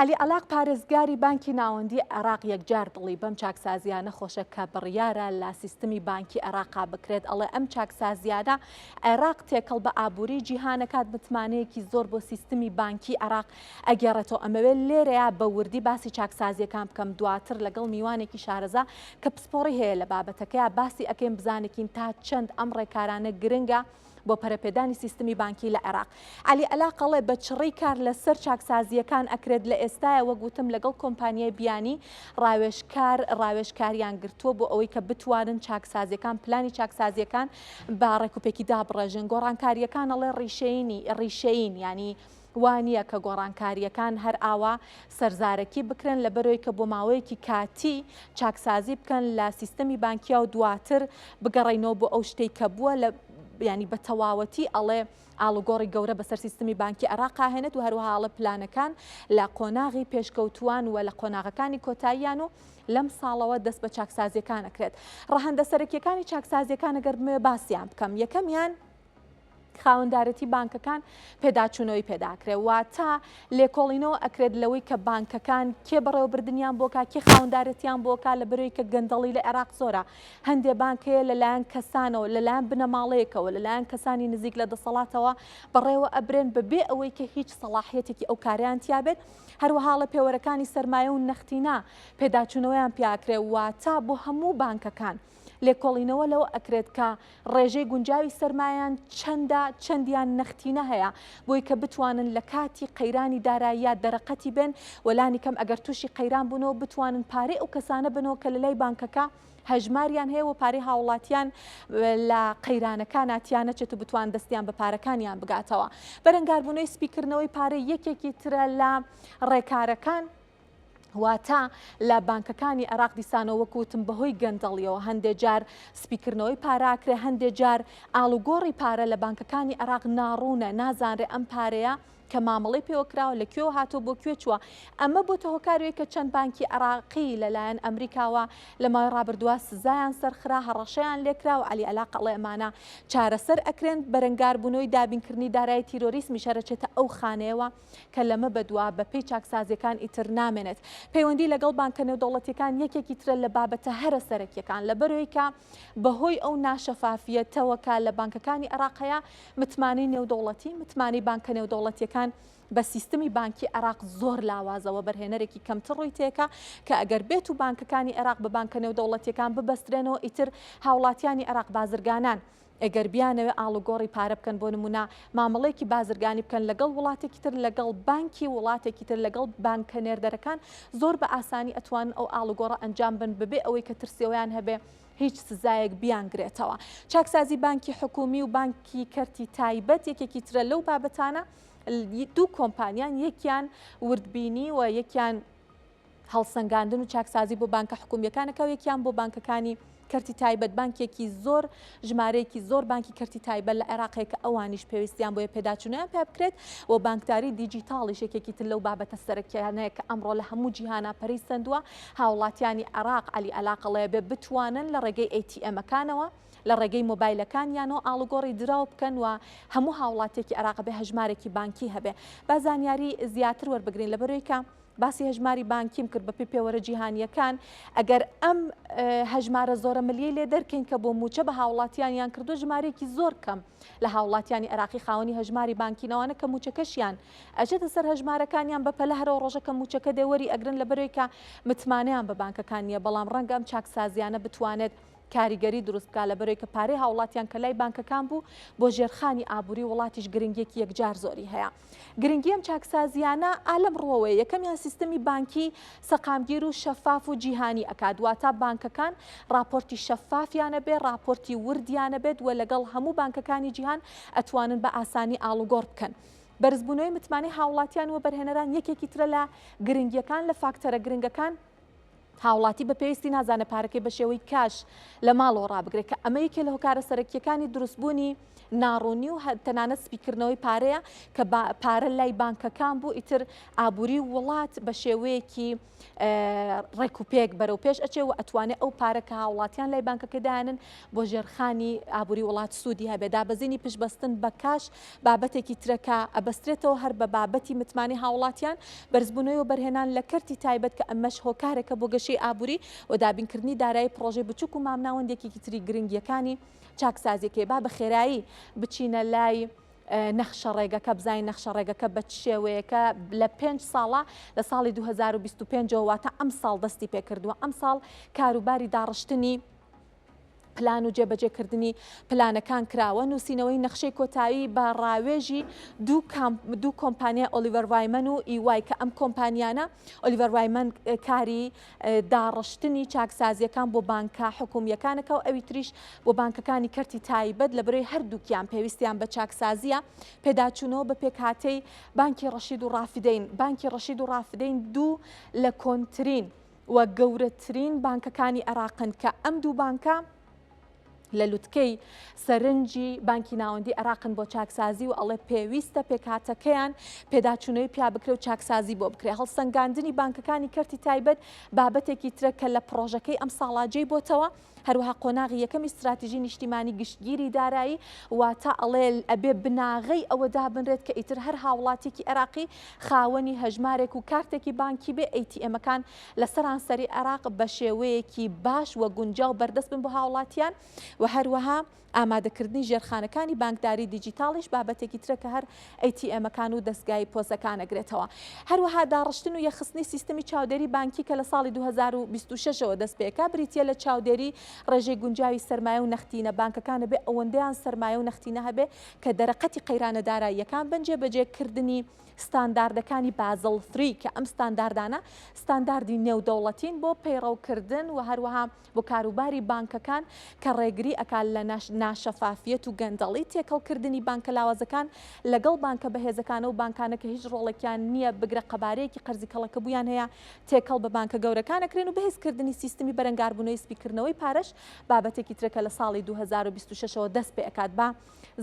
عەلی عەلاق پارێزگاری بانکی ناوەندی عێراق یەکجار دڵی بەم چاکسازیانە خۆشە کە بڕیارە لە سیستمی بانکی عێراقا بکرێت ئەڵێ ئەم چاکسازیانە عێراق تێکەڵ بە ئابووری جیهانەکات متمانەیەکی زۆر بۆ سیستمی بانکی عێراق ئەگەڕێتەوە ئەمەوێت لێرەیە بە وردی باسی چاکسازیەکان بکەم دواتر لەگەڵ میوانێکی شارەزا کە پسپۆڕی هەیە لە بابەتەکەی باسی ئەەکەین بزانێکین تا چەند ئەم ڕێکارانە گرنگە و بۆ پەرەپێدانی سیستمی بانکی لە عێراق. عەلی ئەلاقەڵێ، بە چڕی کار لە سەر چاکسازییەکان ئەکرێت، لە ئێستایە وەک وتم لەگەڵ کۆمپانیای بیانی ڕاوێژکار ڕاوێژکاریان گرتووە بۆ ئەوەی کە بتوانن چاکسازیەکان پلانی چاکسازیەکان بە ڕێکوپێکی دابڕێژن گۆڕانکارییەکان ئەڵێ ڕیشەیینی ڕیشەیین یانی وا نییە کە گۆڕانکارییەکان هەر ئاوا سەرزارەکی بکرێن، لەبەرئەوەی کە بۆ ماوەیەکی کاتی چاکسازی بکەن لە سیستەمی بانکیا و دواتر بگەڕێینەوە بۆ ئەو شتەی کە بووە لە یعنی بە تەواوەتی ئەڵێ ئاڵوگۆڕی گەورە بەسەر سیستمی بانکی عێراقا هێنێت و هەروەها ئەڵێ پلانەکان لە قۆناغی پێشکەوتووان و لە قۆناغەکانی کۆتاییان و لەم ساڵەوە دەست بە چاکسازیەکان ئەکرێت ڕەهەندە سەرەکیەکانی چاکسازیەکان ئەگەر بمەوێ باسیان بکەم یەکەمیان خاوەندارێتی بانکەکان پێداچوونەوەی پێداکرێ واتە لێکۆڵینەوە ئەکرێت لەوەی کە بانکەکان کێ بەڕێوەبردنیان بۆکە کێ خاوەندارێتیان بۆکە لە بەرەوەی کە گەندەڵی لە عێراق زۆرە هەندێ بانکەیە لەلایەن کەسانەوە لەلایەن بنەماڵەیەکەوە لەلایەن کەسانی نزیک لە دەسەڵاتەوە بەڕێوە ئەبرێن بەبێ ئەوەی کە هیچ سەڵاحەتێکی ئەو کاریان تیابێت هەروەها لە پێوەرەکانی سەرمایە و نەختینە پێداچوونەوەیان پیاکرێ واتە بۆ هەموو بانکەکان. لێکۆڵینەوە لەوە ئەکرێت کە ڕێژەی گونجاوی سەرمایان چەندە چەندیان نەختینە هەیە بۆی کە بتوانن لە کاتی قەیرانی داراییە دەرەقەتی بن وەلانی کەم ئەگەر تووشی قەیران بوونەوە بتوانن پارەی ئەو کەسانە بنەوە کە لەلای بانکەکە هەژماریان هەیە و پارەی هاوڵاتیان لە قەیرانەکان ناتیان نەچێت و بتوان دەستیان بە پارەکانیان بگاتەوە بەرەنگاربوونەوەی سپیکردنەوەی پارەی یەکێکی ترە لە ڕێکارەکان واتە لە بانکەکانی عێراق دیسانەوە وەکوتم بەهۆی گەندەڵیەوە هەندێک جار سپیکردنەوەی پاراکرێ هەندێک جار ئالوگۆڕی پارە لە بانکەکانی عێراق ناڕوونە نازانرێ ئەم پارەیە کە مامەڵی پێوەکراوە لە کوێوە هاتۆ بۆ کوێ چووە ئەمە بۆ تە هۆکاروێک کە چەند بانکی عراقی لەلایەن ئەمریکاوە لە ماوەی ڕابردووە سزایان سەرخرا هەڕەشەیان لێکرا و علی علا قەڵێ ئەمانە چارەسەر ئەکرێن بەرەنگاربوونەوەی دابینکردنی دارایی تیرۆریسمی شەرەچێتە ئەو خانەیەوە کە لەمە بەدوا بەپێی چاکسازیەکان ئیتر نامێنێت پەیوەندی لەگەڵ بانکە نێودەوڵەتیەکان یەکێکی ترە لە بابەتە هەرە سەرەکیەکان لەبەرەوەی کە بەهۆی ئەو ناشەفافیەتەوەکە لە بانکەکانی عێراق هەیە متمانەی نێودەوڵەتی متمانەی بانکە نێودەوڵەتیەکان بە سیستمی بانکی عێراق زۆر لاوازەوە بەرهێنەرێکی کەمتر ڕووی تێکە کە ئەگەر بێت و بانکەکانی عێراق بە بانکە نێودەوڵەتیەکان ببەسترێنەوە ئیتر هاوڵاتیانی عێراق بازرگانان ئەگەر بیانەوێت ئاڵوگۆڕی پارە بکەن بۆ نموونە مامەڵەیەکی بازرگانی بکەن لەگەڵ وڵاتێکی تر لەگەڵ بانکی وڵاتێکی تر لەگەڵ بانکە نێردەرەکان زۆر بە ئاسانی ئەتوانن ئەو ئاڵوگۆڕە ئەنجام بن بەبێ ئەوەی کە ترسی ئەویان هەبێ هیچ سزایەک بیانگرێتەوە چاکسازی بانکی حکومی و بانکی کەرتی تایبەت یەکێکی ترە لەو بابەتانە دوو کۆمپانیان یەکیان وردبینی و یەکیان هەڵسەنگاندن و چاکسازی بۆ بانکە حکومییەکانەکە و یەکیان بۆ بانکەکانی کەرتی تایبەت بانکێکی زۆر ژمارەیەکی زۆر بانکی کەرتی تایبەت لە عێراقێک کە ئەوانیش پێویستیان بۆیە پێداچوونیان پێ بکرێت و بانکداری دیجیتاڵی شێکێکی تر لەو بابەتە سەرەکیانەیە کە ئەمڕۆ لە هەموو جیهانا پەری سندووە هاوڵاتیانی عێراق علی ئەلاقەڵەیە بێ بتوانن لە ڕێگەی ئەیتیئەمەکانەوە لە ڕێگەی مۆبایلەکانیانەوە ئاڵوگۆڕی دراو بکەن و هەموو هاوڵاتیەکی عێراق بێ هەژمارێکی بانکی هەبێ با زانیاری زیاتر وەربگرین لەبەرەوەی کە باسی هەژماری بانکیم کرد بەپێی پێوەرە جیهانییەکان ئەگەر ئەم هەژمارە زۆرە ملیەی لێ دەرکەین کە بۆ موچە بە هاوڵاتیانیان کردو ژمارەیەکی زۆر کەم لە هاوڵاتیانی عراقی خاوەنی هەژماری بانکینەوانە کە موچەکەشیان ئەچێتە سەر هەژمارەکانیان بە پەلە هەرەوە ڕۆژەکە موچەکە دەوەری ئەگرن لە بەرێکە متمانەیان بە بانکەکان نییە بەڵام ڕەنگە ئەم چاکسازیانە بتوانێت کاریگەری دروست بکە لە بەرێکە پارەی هاوڵاتیان کە لای بانکەکان بوو بۆ ژێرخانی ئابووری وڵاتیش گرنگێکی یەکجار زۆری هەیە. گرنگی ئەم چاکسازییانە ئا لەم ڕووەوەیە، یەکەمیان سیستەمی بانکی سەقامگیر و شەفاف و جیهانی ئەکات، واتا بانکەکان ڕاپۆرتی شەفافیان ئەبێ، ڕاپۆرتی وردیان ئەبێت و لەگەڵ هەموو بانکەکانی جیهان ئەتوانن بە ئاسانی ئاڵوگۆڕ بکەن. بەرزبوونەوەی متمانەی هاوڵاتیان وەبەرهێنەران یەکێکی ترە لە گرنگییەکان لە فاکتەرە گرنگەکان، هاوڵاتی بە پێویستی نازانێت پارەکەی بە شێوەی کاش لە ماڵەوە ڕابگرێت کە ئەمە یەکێ لە هۆکارە سەرەکیەکانی دروستبوونی ناڕوونی و تەنانەت سپیکردنەوەی پارەیە کە پارە لای بانکەکان بوو ئیتر ئابووری وڵات بە شێوەیەکی ڕێکوپێک بەرەو پێش ئەچێ و ئەتوانێت ئەو پارە کە هاوڵاتیان لای بانکەکەدانن بۆ ژێرخانی ئابووری وڵات سوودی هەبێ دابەزینی پشبەستن بە کاش بابەتێکی ترە کە ئەبەسترێتەوە هەر بە بابەتی متمانەی هاوڵاتیان، بەرزبوونەوەی وەبەرهێنان لە کەرتی تایبەت کە ئەمەش هۆکارێکە بۆ گەشەی ئابووری و دابینکردنی دارایی پڕۆژەی بچووک و مامناوەند یەکێکی تری گرنگییەکانی چاکسازییەکەیە با بە خێرایی بچینە لای نەخشە ڕێگەکە بزانین نەخشە ڕێگەکە بە چ شێوەیەکە لە پێنج ساڵە لە ساڵی 2025ەوە واتە ئەمساڵ دەستی پێکردووە ئەمساڵ کاروباری داڕشتنی پلان و جێبەجێکردنی پلانەکان کراوە نووسینەوەی نەخشەی کۆتایی بە ڕاوێژی دوو کۆمپانیای ئۆلیڤەر وایمەن و ئیوای کە ئەم کۆمپانیانە ئۆلیڤەر وایمەن کاری داڕشتنی چاکسازیەکان بۆ بانکە حکومیەکانەکە و ئەوی تریش بۆ بانکەکانی کەرتی تایبەت لە برۆی هەردووکیان پێویستیان بە چاکسازیە پێداچوونەوە بە پێکهاتەی بانکی ڕەشید و ڕافدەین بانکی ڕەشید و ڕافدەین دوو لە کۆنترین و گەورەترین بانکەکانی عێراقن کە ئەم دوو بانکە لە لوتکەی سەرنجی بانکی ناوەندی عراقن بۆ چاکسازی و ئەڵێ پێویستە پێکاتەکەیان پێداچوونەوەی پیا بکرێ و چاکسازی بۆ بکرێ هەڵسەنگاندنی بانکەکانی کەرتی تایبەت بابەتێکی ترە کە لە پرۆژەکەی ئەم ساڵاجێی بۆتەوە هەروەها قۆناغی یەکەمی ستراتیژی نیشتیمانی گشتگیری دارایی واتە ئەڵێ ئەبێ بناغەی ئەوە دابنرێت کە ئیتر هەر هاوڵاتیکی عێراقی خاوەنی هەژمارێک و کارتێکی بانکی بێ ئەیتیئێمەکان لە سەرانسەری عێراق بە شێوەیەکی باش و گونجاو بەردەست بن بۆ هاوڵاتیان و هەروەها ئامادەکردنی ژێرخانەکانی بانکداری دیجیتاڵیش بابەتێکی ترە کە هەر ATMەکان و دەزگای پۆسەکان ئەگرێتەوە. هەروەها داڕشتن و یەخستنی سیستمی چاودێری بانکی کە لە ساڵی دوو هەزار و بیست و شەش ەوە دەست پێکا بریتیە لە چاودێری ڕێژەی گونجاوی سەرمایە و نەختینە بانکەکان بێ ئەوەندەیان سەرمایە و نەختینە هەبێ کە دەرەقەتی قەیرانە داراییەکان بن جێبەجێ کردنی ستانداردەکانی بازڵ ثری کە ئەم ستانداردانە ستانداردی نێودەوڵەتین بۆ پەیڕەوکردن و هەروەها بۆ کاروباری بانکەکان کە ڕێگری ئەکا لە ناشەفافیەت و گەندەڵی تێکەڵ کردنی بانکە لاوازەکان لەگەڵ بانکە بەهێزەکانە و بانکانە کە هیچ ڕۆڵێکیان نییە بگرە قەبارەیەکی قەرزی کەڵەکەبوویان هەیە تێکەڵ بە بانکە گەورەکان ئەکرێن و بەهێز کردنی سیستمی بەرەنگاربوونەوەی سپی کردنەوەی پارەش بابەتێکی ترە کە لە ساڵی دوو هەزار و بیست و شەش ەوە دەست پێ ئەکات با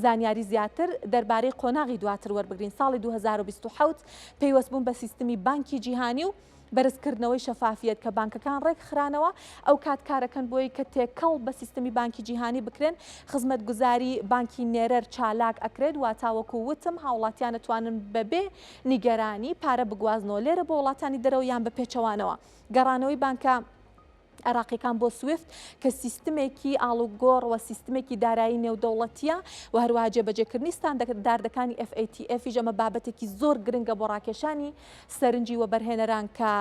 زانیاری زیاتر دەربارەی قۆناغی دواتر وەربگرین ساڵی دوو هەزار و بیست و حەوت پەیوەست بوون بە سیستمی بانکی جیهانی و بەرزکردنەوەی شەفافیەت کە بانکەکان ڕێکخرانەوە ئەوکات کارەکەن بۆی کە تێکەڵ بە سیستمی بانکی جیهانی بکرێن خزمەتگوزاری بانکی نێرەر چالاک ئەکرێت واتا وەکو وتم هاوڵاتیان ئەتوانن بەبێ نیگەرانی پارە بگوازنەوە لێرە بۆ وڵاتانی دەرەوە یان بە پێچەوانەوە گەڕانەوەی بانکە عێراقیەکان بۆ سویفت کە سیستمێکی ئاڵوگۆڕ و سیستمێکی دارایی نێودەوڵەتیە و هەروە جێبەجێکردنی ستاندەردەکانی FATF ژەمە بابەتێکی زۆر گرنگە بۆ ڕاکێشانی سەرنجی و بەرهێنەران کە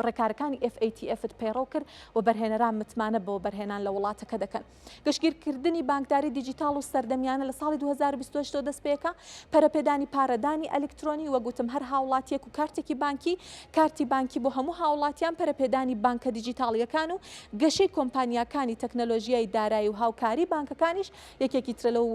ڕێکارەکانی FATF پەیڕەو کرد و بەرهێنەران متمانە بۆ بەرهێنان لە وڵاتەکە دەکەن. گشتگیرکردنی بانکداری دیجیتاڵ و سەردەمیانە لە ساڵی 2028 دەست پێکا، پەرەپێدانی پارەدانی ئەلیکترۆنی، وەک وتم هەر هاوڵاتیەک و کارتێکی بانکی، کارتی بانکی بۆ هەموو هاوڵاتیان، پەرەپێدانی بانکە دیجیتاڵیەکان و گەشەی کۆمپانیاکانی تەکنەلۆژیای دارایی و هاوکاری بانکەکانیش یەکێکی ترە لەو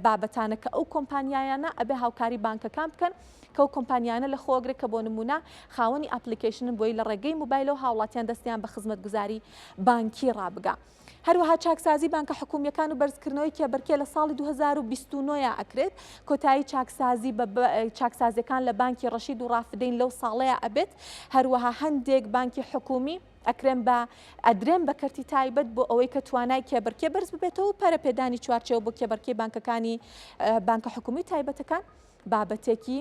بابەتانە کە ئەو کۆمپانیایانە ئەبێ هاوکاری بانکەکان بکەن کەو کۆمپانیانە لە خۆگرێک کە بۆ نمونە خاوەنی ئەپلیکیشنن بۆی لە ڕێگەی موبایلەوە هاوڵاتیان دەستیان بە خزمەتگوزاری بانکی ڕابگا. هەروەها چاکسازی بانکە حکومیەکان و بەرزکردنەوەی کێبەرکێ لە ساڵی 2029 ە ئەکرێت کۆتایی چاکسازی بە چاکسازیەکان لە بانکی ڕەشید و ڕافدەین لەو ساڵەیە ئەبێت هەروەها هەندێک بانکی حکومی ئەکرێن بە ئەدرێن بە کەرتی تایبەت بۆ ئەوەی کە توانای کێبەرکێ بەرز ببێتەوە پەرە پێدانی چوارچەوە بۆ کێبەرکەی بانکەکانی بانکە حکومی تایبەتەکان بابەتێکی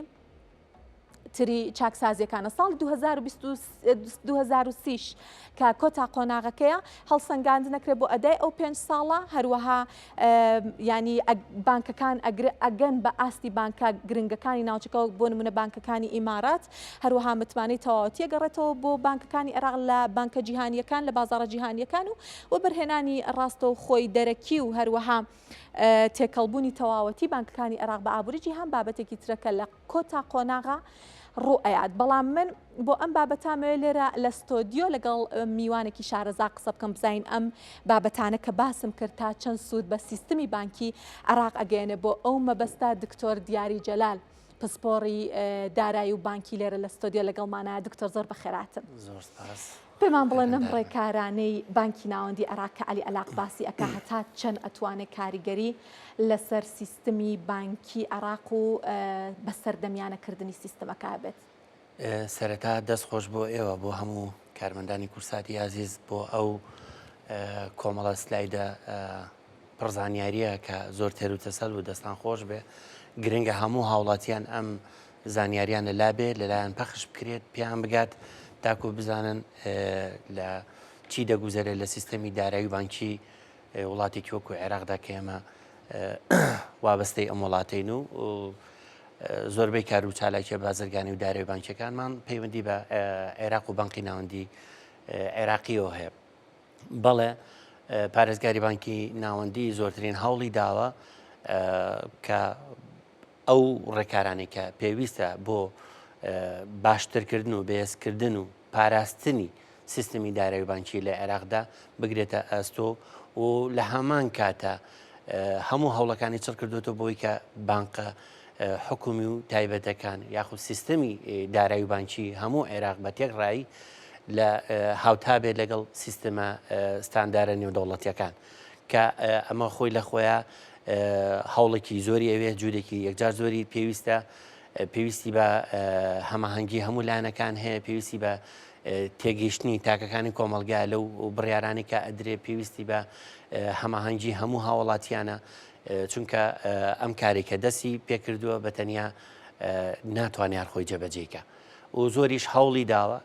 تری چاکسازیەکانە ساڵی 2023ش کە کۆتا قۆناغەکەیە هەڵسەنگاند نەکرێت بۆ ئەدای ئەو پێنج ساڵە هەروەها ینی بانکەکان ئەگەن بە ئاستی بانکە گرنگەکانی ناوچەکە بۆ نمونە بانکەکانی ئیمارات هەروەها متمانەی تەواوەتیە گەڕێتەوە بۆ بانکەکانی عێراق لە بانکە جیهانیەکان لە بازارە جیهانیەکان و وەبەرهێنانی ڕاستە و خۆی دەرەکی و هەروەها تێکەڵبوونی تەواوەتی بانکەکانی عێراق بە ئابووری جیهان بابەتێکی ترە کە لە کۆتا قۆناغا ڕوو ئەیات بەڵام من بۆ ئەم بابەتامەوێ لێرە لە ستۆدیۆ لەگەڵ میوانێکی شارەزا قسە بکەم بزین ئەم بابەتانە کە باسم کرد تا چەند سوود بە سیستمی بانکی عراق ئەگەێنێ بۆ ئەو مەبەستا دکتۆر دیاری جەلال پسپۆڕی دارایی و بانکی لێرە لە ستۆدیۆ لەگەڵمانە دکتۆر زۆر بەخێراتن پێمان بڵێن ئەم ڕێکارانەی بانکی ناوەندی عێراق کە عەلی عەلاق باسی ئەکا هەتا چەند ئەتوانێ کاریگەری لەسەر سیستمی بانکی عێراق و بەسەردەمیانە کردنی سیستمەکە هەبێت؟ سەرەتا دەست خۆش بۆ ئێوە بۆ هەموو کارمەندانی کورساتی ئازیز بۆ ئەو کۆمەڵە سلایدە پڕزانیاریە کە زۆر تێر و تەسەل و دەستان خۆش بێ گرنگە هەموو هاوڵاتیان ئەم زانیاریان لە لا بێت لەلایان پەخش بکرێت پێیان بگات تاکو بزانن لە چی دەگوزەرێت لە سیستەمی دارایی بانکی وڵاتێکی وەکو عێراقدا کە ئێمە وابەستەی ئەم وڵاتین و زۆربەی کار و چالاکیە بازرگانی و دارێ بانکەکانمان پەیوەندی بە عێراق و بانقی ناوەندی عێراقیەوە هەیە بەڵێ پارێزگاری بانکی ناوەندی زۆرترین هەوڵی داوە کە ئەو ڕێکارانەی کە پێویستە بۆ باشترکردن و بەهێزکردن و پاراستنی سیستمی دارایی بانکی لە عێراقدا بگرێتە ئەستۆ و لە هەمان کاتە هەموو هەوڵەکانی چڕ کردوێتەوە بۆی کە بانقە حکومی و تایبەتەکان یاخود سیستەمی دارایی بانکی هەموو عێراق بە تێک ڕایی لە هاوتا بێت لەگەڵ سیستەمە ستاندارە نێودەوڵەتیەکان کە ئەمە خۆی لە خۆیان هەوڵێکی زۆری ئەوێ جوورێکی یەکجار زۆری پێویستە پێویستی بە هەماهەنگی هەموو لایەنەکان هەیە پێویستی بە تێگەیشتنی تاکەکانی کۆمەلگا لەو بڕیارانی کە ئەدرێ پێویستی بە هەماهەنگی هەموو هاوڵاتیانە چونکە ئەم کارێکە دەستی پێکردووە بە تەنیا ناتوانیان خۆی جەبەجێکە و زۆریش هەوڵی داوە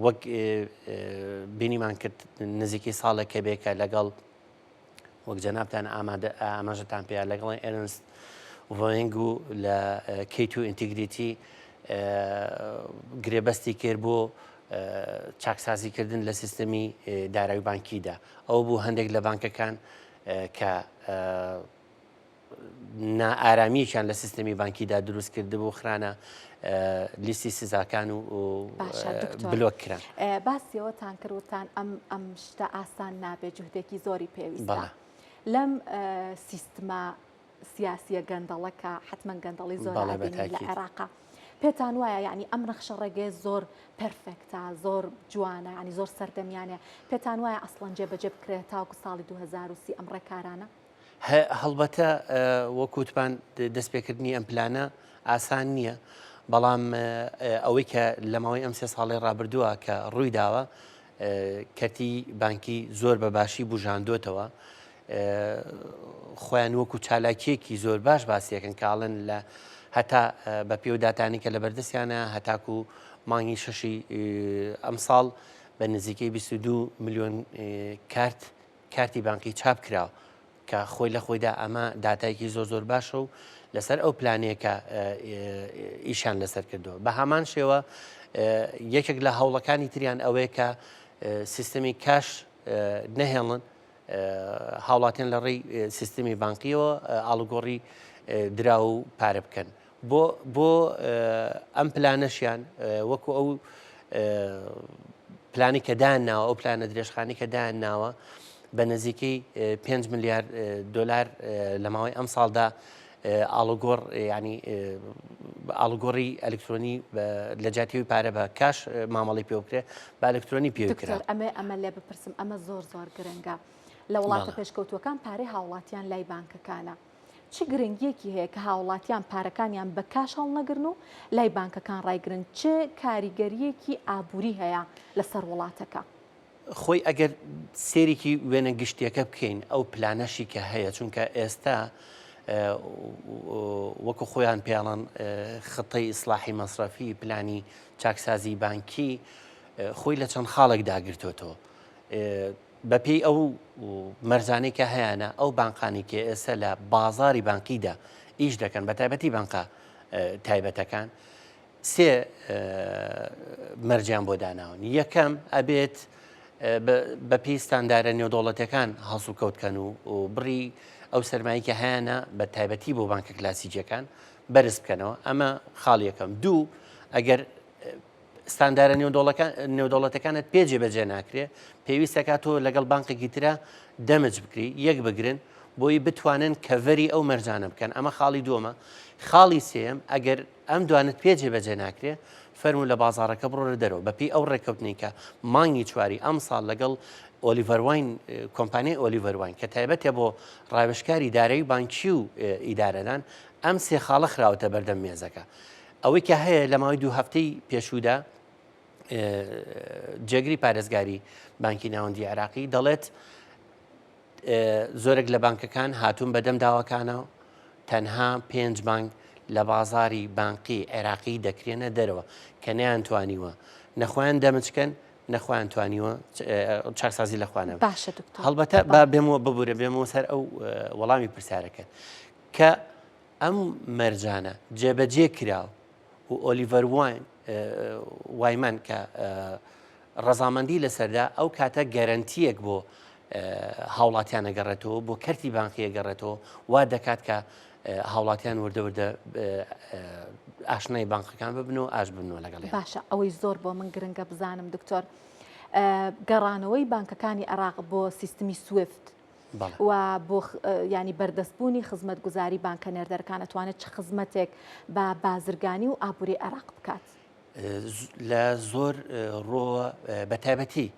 وەک بینیمان کرد نزیکی ساڵێکە بێکە لەگەڵ وەک جەنابتان ئامادە ئاماژەتان پێیان لەگەڵی ئێرنست ڕۆینگ و لە کەیت و ئینتیگریتی گرێبەستی کرد بۆ چاکسازیکردن لە سیستەمی دارای بانکیدا ئەو بوو هەندێک لە بانکەکان کە نائارامیەکیان لە سیستمی بانکیدا دروست کردبوو خرانە لیستی سزاکان و بلۆک کران باسیەوەتان کردوتان ئەم ئەم شتە ئاسان نابێت جوهدێکی زۆری پێویست لەم سیستما سیاسیە گەندەڵەکە حتمما گەندەڵی زۆر لە عێراقا. پێتان وایە ینی ئەم نەخشە ڕێگەی زۆر پرفێکتا زۆر جوانە ینی زۆر سەردەمیانە پێتان وایە ئەسڵەن جێ بەجێ بکرێت تاوکو ساڵی 2030 ئەم ڕێکارانە هەڵبەتە وەک وتمان دەستپێکردنی ئەم پلانە ئاسان نییە بەڵام ئەوەی کە لە ماوەی ئەم سێ ساڵی ڕابردووە کە ڕووی داوە کەتی بانکی زۆر بە باشی بژاندوتەوە خۆیان وەکو چالاکیەکی زۆر باش باسیەکەن کاڵن لە هەتا بە پێوداتانی کە لە بەردەستیانە هەتاکو مانگی شەشی ئەمساڵ بە نزیکەی 22 میلیۆن کارت کارتی بانقی چاپ کراو کە خۆی لە خۆیدا ئەمە داتایەکی زۆر زۆر باشە و لەسەر ئەو پلانەیە کە ئیشان لەسەر کردووە بە هامان شێوە یەکێک لە هەوڵەکانی تریان ئەوەیە کە سیستمی کاش نەهێڵن هاوڵاتیان لە ڕێی سیستمی بانقیەوە ئاڵگۆڕی درا و پارە بکەن بۆ بۆ ئەم پلانەشیان وەکو ئەو پلانی کە دایان ناوە ئەو پلانە درێژخانی کە دایان ناوە بە نزیکەی 5 میلیارد دلار لە ماوەی ئەم ساڵدا ئاڵوگۆڕ ینی ئاڵگۆڕی ئەلکترۆنی لە جاتیوی پارە بە کاش مامەڵی پێ بکرێت با ئەلکترۆنی پێ کرا ئەمە ئەمە لێ بپرسم ئەمە زۆر زۆر گرنگە لە وڵاتە پێشکەوتوەکان پارەی هاوڵاتیان لای بانکەکانە چ گرنگیەکی هەیە کە هاوڵاتیان پارەکانیان بە کاش هەڵنەگرن و لای بانکەکان ڕایگرن چ کاریگەریەکی ئابووری هەیە لەسەر وڵاتەکە؟ خۆی ئەگەر سێریکی وێنە گشتیەکە بکەین ئەو پلانەشی کە هەیە چونکە ئێستا وەکو خۆیان پێڵەن خطەی ئیسلاحی مەسرەفی پلانی چاکسازی بانکی خۆی لە چەند خاڵێک داگرتوێتەوە بە پێی ئەو مەرجانەی کە هەیانە ئەو بانقانی کە ئێستا لە بازاری بانقیدا ئیش دەکەن بە تایبەتی بانقە تایبەتەکان سێ مەرجیان بۆ داناون یەکەم ئەبێت بە پێی ستاندارە نێودوڵەتەکان هەڵسو کەوتکەن و بڕی ئەو سەرمایکە هەیەە بە تایبەتی بۆ بانکە کلاسیجەکان بەرز بکەنەوە ئەمە خاڵیەکەم دوو ئەگەر ستاندارە نێودەوڵەتەکانت پێ جێبەجێ ناکرێ پێویستە کا تۆ لەگەڵ بانقێکی ترە دەمج بکری یەک بگرن بۆی بتوانن کەڤەری ئەو مەرجانە بکەن ئەمە خاڵی دووەمە خاڵی سێم ئەگەر ئەم دوانت پێ جێبەجێ ناکرێ فەرمو لە بازارەکە بڕۆرە دەرەوە بەپی ئەو ڕێککەوتنی کە مانگی چواری ئەم ساڵ لەگەڵ ئۆلیڤەرواین کۆمپانیای ئۆلیڤەرواین کە تایبەتە بۆ ڕاوێشکاری دارایی بانکی و ئیدارەدان ئەم سێ خاڵە خراوەتە بەردەم مێزەکە ئەوەی کە هەیە لە ماوەی دوو هەفتەی پێشوودا جێگری پارێزگاری بانکی ناوەندی عێراقی دەڵێت زۆرێک لە بانکەکان هاتوون بەدەم داواکانەوە تەنها پێنج بانک لە بازاری بانقی عێراقی دەکرێنە دەرەوە کە نیان توانیوە نەخۆیان دەمچکەن نەخوایان توانیوە چاکسازی لە خوانە باشە هەڵبەتە با بێمەوە ببورە بێمەوە سەر ئەو وەڵامی پرسیارەکە کە ئەم مەرجانە جێبەجێ کرا و ئۆلیڤەر وایمەن کە ڕەزامەندی لەسەردا ئەو کاتە گەرەنتیەک بۆ هاوڵاتیان نەگەڕێتەوە بۆ کەرتی بانقیە گەڕێتەوە وا دەکات کە هاوڵاتیان وردەوردە ئاشنای بانقەکان ببن و ئاش بنەوە لەگەڵ باشە ئەوەی زۆر بۆ من گرنگە بزانم دکتۆر گەڕانەوەی بانکەکانی عراق بۆ سیستمی سوفت و بۆ ینی بەردەستبوونی خزمەتگوزاری بانکە نێردەرەکان ئەتوانێت چ خزمەتێک بە بازرگانی و ئابووری عێراق بکات لە زۆر ڕۆوە بەتابەتی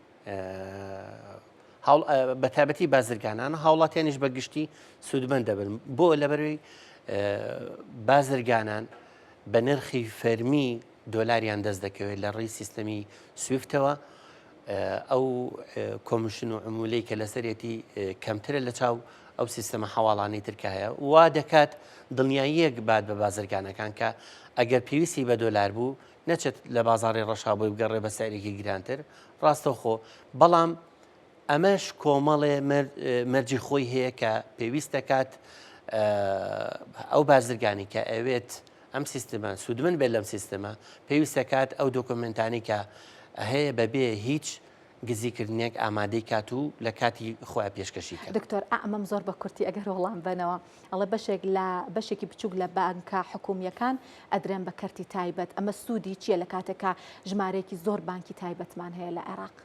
بەتابەتی بازرگانانە هاوڵاتیانیش بە گشتی سوودمەند دەبن بۆ لەبەروی بازرگانان بە نرخی فەرمی دۆلاریان دەست دەکەوێت لە ڕێی سیستەمی سویفتەوە ئەو کۆمشن و عمولەی کە لەسەرەتی کەمترە لە چاو ئەو سیستەمە حواڵانەی ترکە هەیە وا دەکات دڵنیاییەک بات بە بازرگانەکان کە ئەگەر پێویستی بە دۆلار بوو نەچێت لە بازاری ڕەشابۆی بگەڕێ بە سەرێکی گرانتر ڕاستەوخۆ بەڵام ئەمەش کۆمەڵێ مەرجی خۆی هەیە کە پێویست دەکات ئەو بازرگانی کە ئەوێت ئەم سیستمە سوودمن بێت لەم سیستمە پێویستەکات ئەو دۆکۆمنتانی کە هەیە بەبێ هیچ گزیکردنێک ئامادەی کات و لە کاتی خۆیان پێشکەشی کرد دکتۆر ئەمەم زۆر بە کورتی ئەگەر وەڵام بنەوە ئەڵە بەشێک لە بەشێکی بچووک لە بانکە حکومیەکان ئەدرێن بە کەرتی تایبەت ئەمە سوودی چییە لە کاتێکا ژمارەیەکی زۆر بانکی تایبەتمان هەیە لە عێراق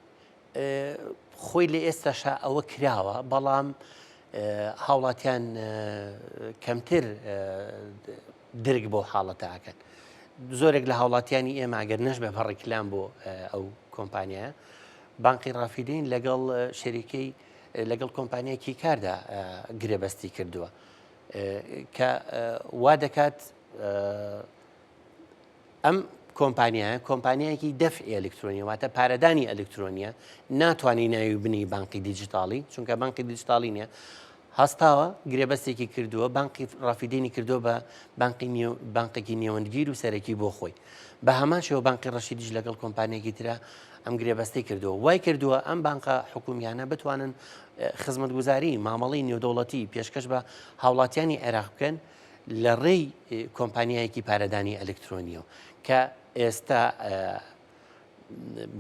خۆی لە ئێستاشا ئەوە کراوە بەڵام هاوڵاتیان کەمتر درک بۆ حاڵەتەکەن زۆرێک لە هاوڵاتیانی ئێمە گەر نەش بە بەڕێکلام بۆ ئەو کۆمپانیایە بانقی ڕافیدین لەگەڵ شەریکەی لەگەڵ کۆمپانیایکی کاردا گرێبەستی کردووە کە وا دەکات ئەم کۆمپانیایە کۆمپانیایەکی دەفعی ئەلکترۆنی واتە پارەدانی ئەلکترۆنیە ناتوانانی ناوی بنی بانقی دیجیتاڵی چونکە بانقی دیجیتاڵی نیە هەستاوە گرێبەستێکی کردووە بانقی ڕافیدینی کردووە بە بانقی بانقێکی نێوەندگیر و سەرەکی بۆ خۆی بە هەمان شێوە بانقی ڕەشیدیش لەگەڵ کۆمپانیەکی ترە ئەم گرێبەستی کردووە وای کردووە ئەم بانقە حکومیانە بتوانن خزمەتگوزاری مامەڵی نێودەوڵەتی پێشکەش بە هاوڵاتیانی عێراق بکەن لە ڕێی کۆمپانیایەکی پارەدانی ئەلکترۆنیەوە کە ئێستا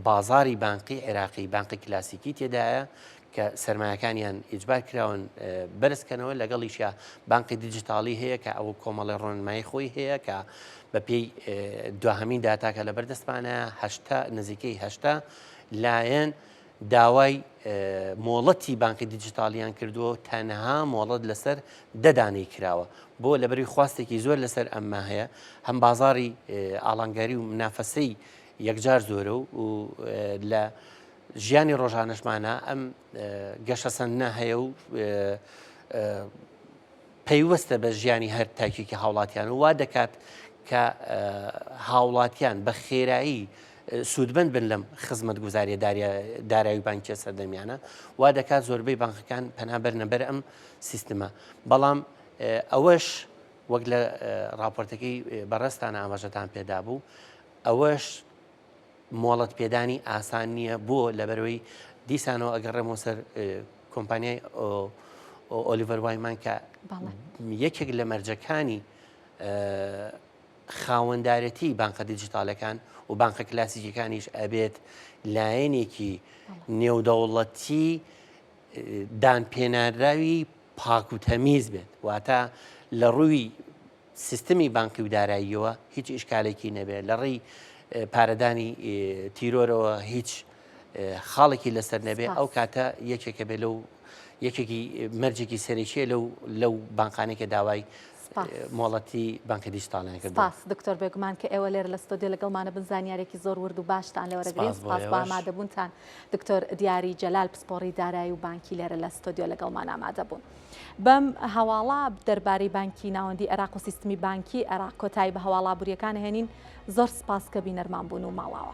بازاری بانقی عێراقی بانقی کلاسیکی تێدایە کە سرمایەکانیان ئیجبار کراون بەرزکەنەوە لەگەڵیشە بانقی دیجیتالی هەیە کە ئەو کۆمەڵی ڕۆنمای خۆی هەیە کە بە پێی دواهمین داتاکە لە بەردەستمانە هەشتا نزیکەی هەشتا لایەن داوای مۆڵەتی بانقی دیجیتالیان کردووە و تەنها مۆڵەت لەسەر دەدانەی کراوە بۆ لەبەری خواستێکی زۆر لەسەر ئەمما هەیە هەم بازاری ئالانگاری و منافەسەی یەکجار زۆرە و لە ژیانی ڕۆژانەشمانە ئەم گەشەسەندە هەیە و پەیوەستە بە ژیانی هەر تاکێکی هاوڵاتیان و وا دەکات کە هاوڵاتیان بە خێرایی سوودمەند بن لەم خزمەت گوزاریە دارایی بانکیە سەردەمیانە وا دەکات زۆربەی بانکەکان پەنابەر نەبەر ئەم سیستمە بەڵام ئەوەش وەک لە راپۆرتەکەی بەڕستانە ئاماژەتان پێدا بوو ئەوەش مۆڵەت پێدانی ئاسان نییە بۆ لەبەرەوەی دیسانەوە ئەگەڕێمەوە سەر کۆمپانیای ئۆلیڤەر وایمان کە یەکێک لە مەرجەکانی خاوەندارەتی بانقە دیجیتالەکان و بانقە کلاسیکەکانیش ئەبێت لایەنێکی نێودەوڵەتی دان پێناراوی پاکوتەمیز بێت واتە لە ڕووی سیستمی بانکی و داراییەوە هیچ ئیشکالێکی نەبێت لە ڕێی پارەدانی تیرۆرەوە هیچ خاڵێکی لەسەر نەبێ ئەو کاتە یەکێکە بێ لەو یەکێکی مەرجێکی سەرێکیە لەو لەو بانقانێکە داوای مۆڵەتی بانکە دیجیتالان کرد باس دکتۆر بێگومان کە ئێوە لێر لە ستۆدیۆ لەگەڵمانە بن زانیارێکی زۆر ورد و باشتان لێ وەرەگرین سپاس بۆ ئامادەبوونتان دکتۆر دیاری جەلال پسپۆڕی دارایی و بانکی لێرە لە ستۆدیۆ لەگەڵمان ئامادە بوون. بەم هەواڵە دەربارەی بانکی ناوەندی عێراق و سیستمی بانکی عێراق کۆتایی بە هەواڵا بوریەکان هێنین زۆر سپاس کە بینەرمان بوون و ماڵاوە.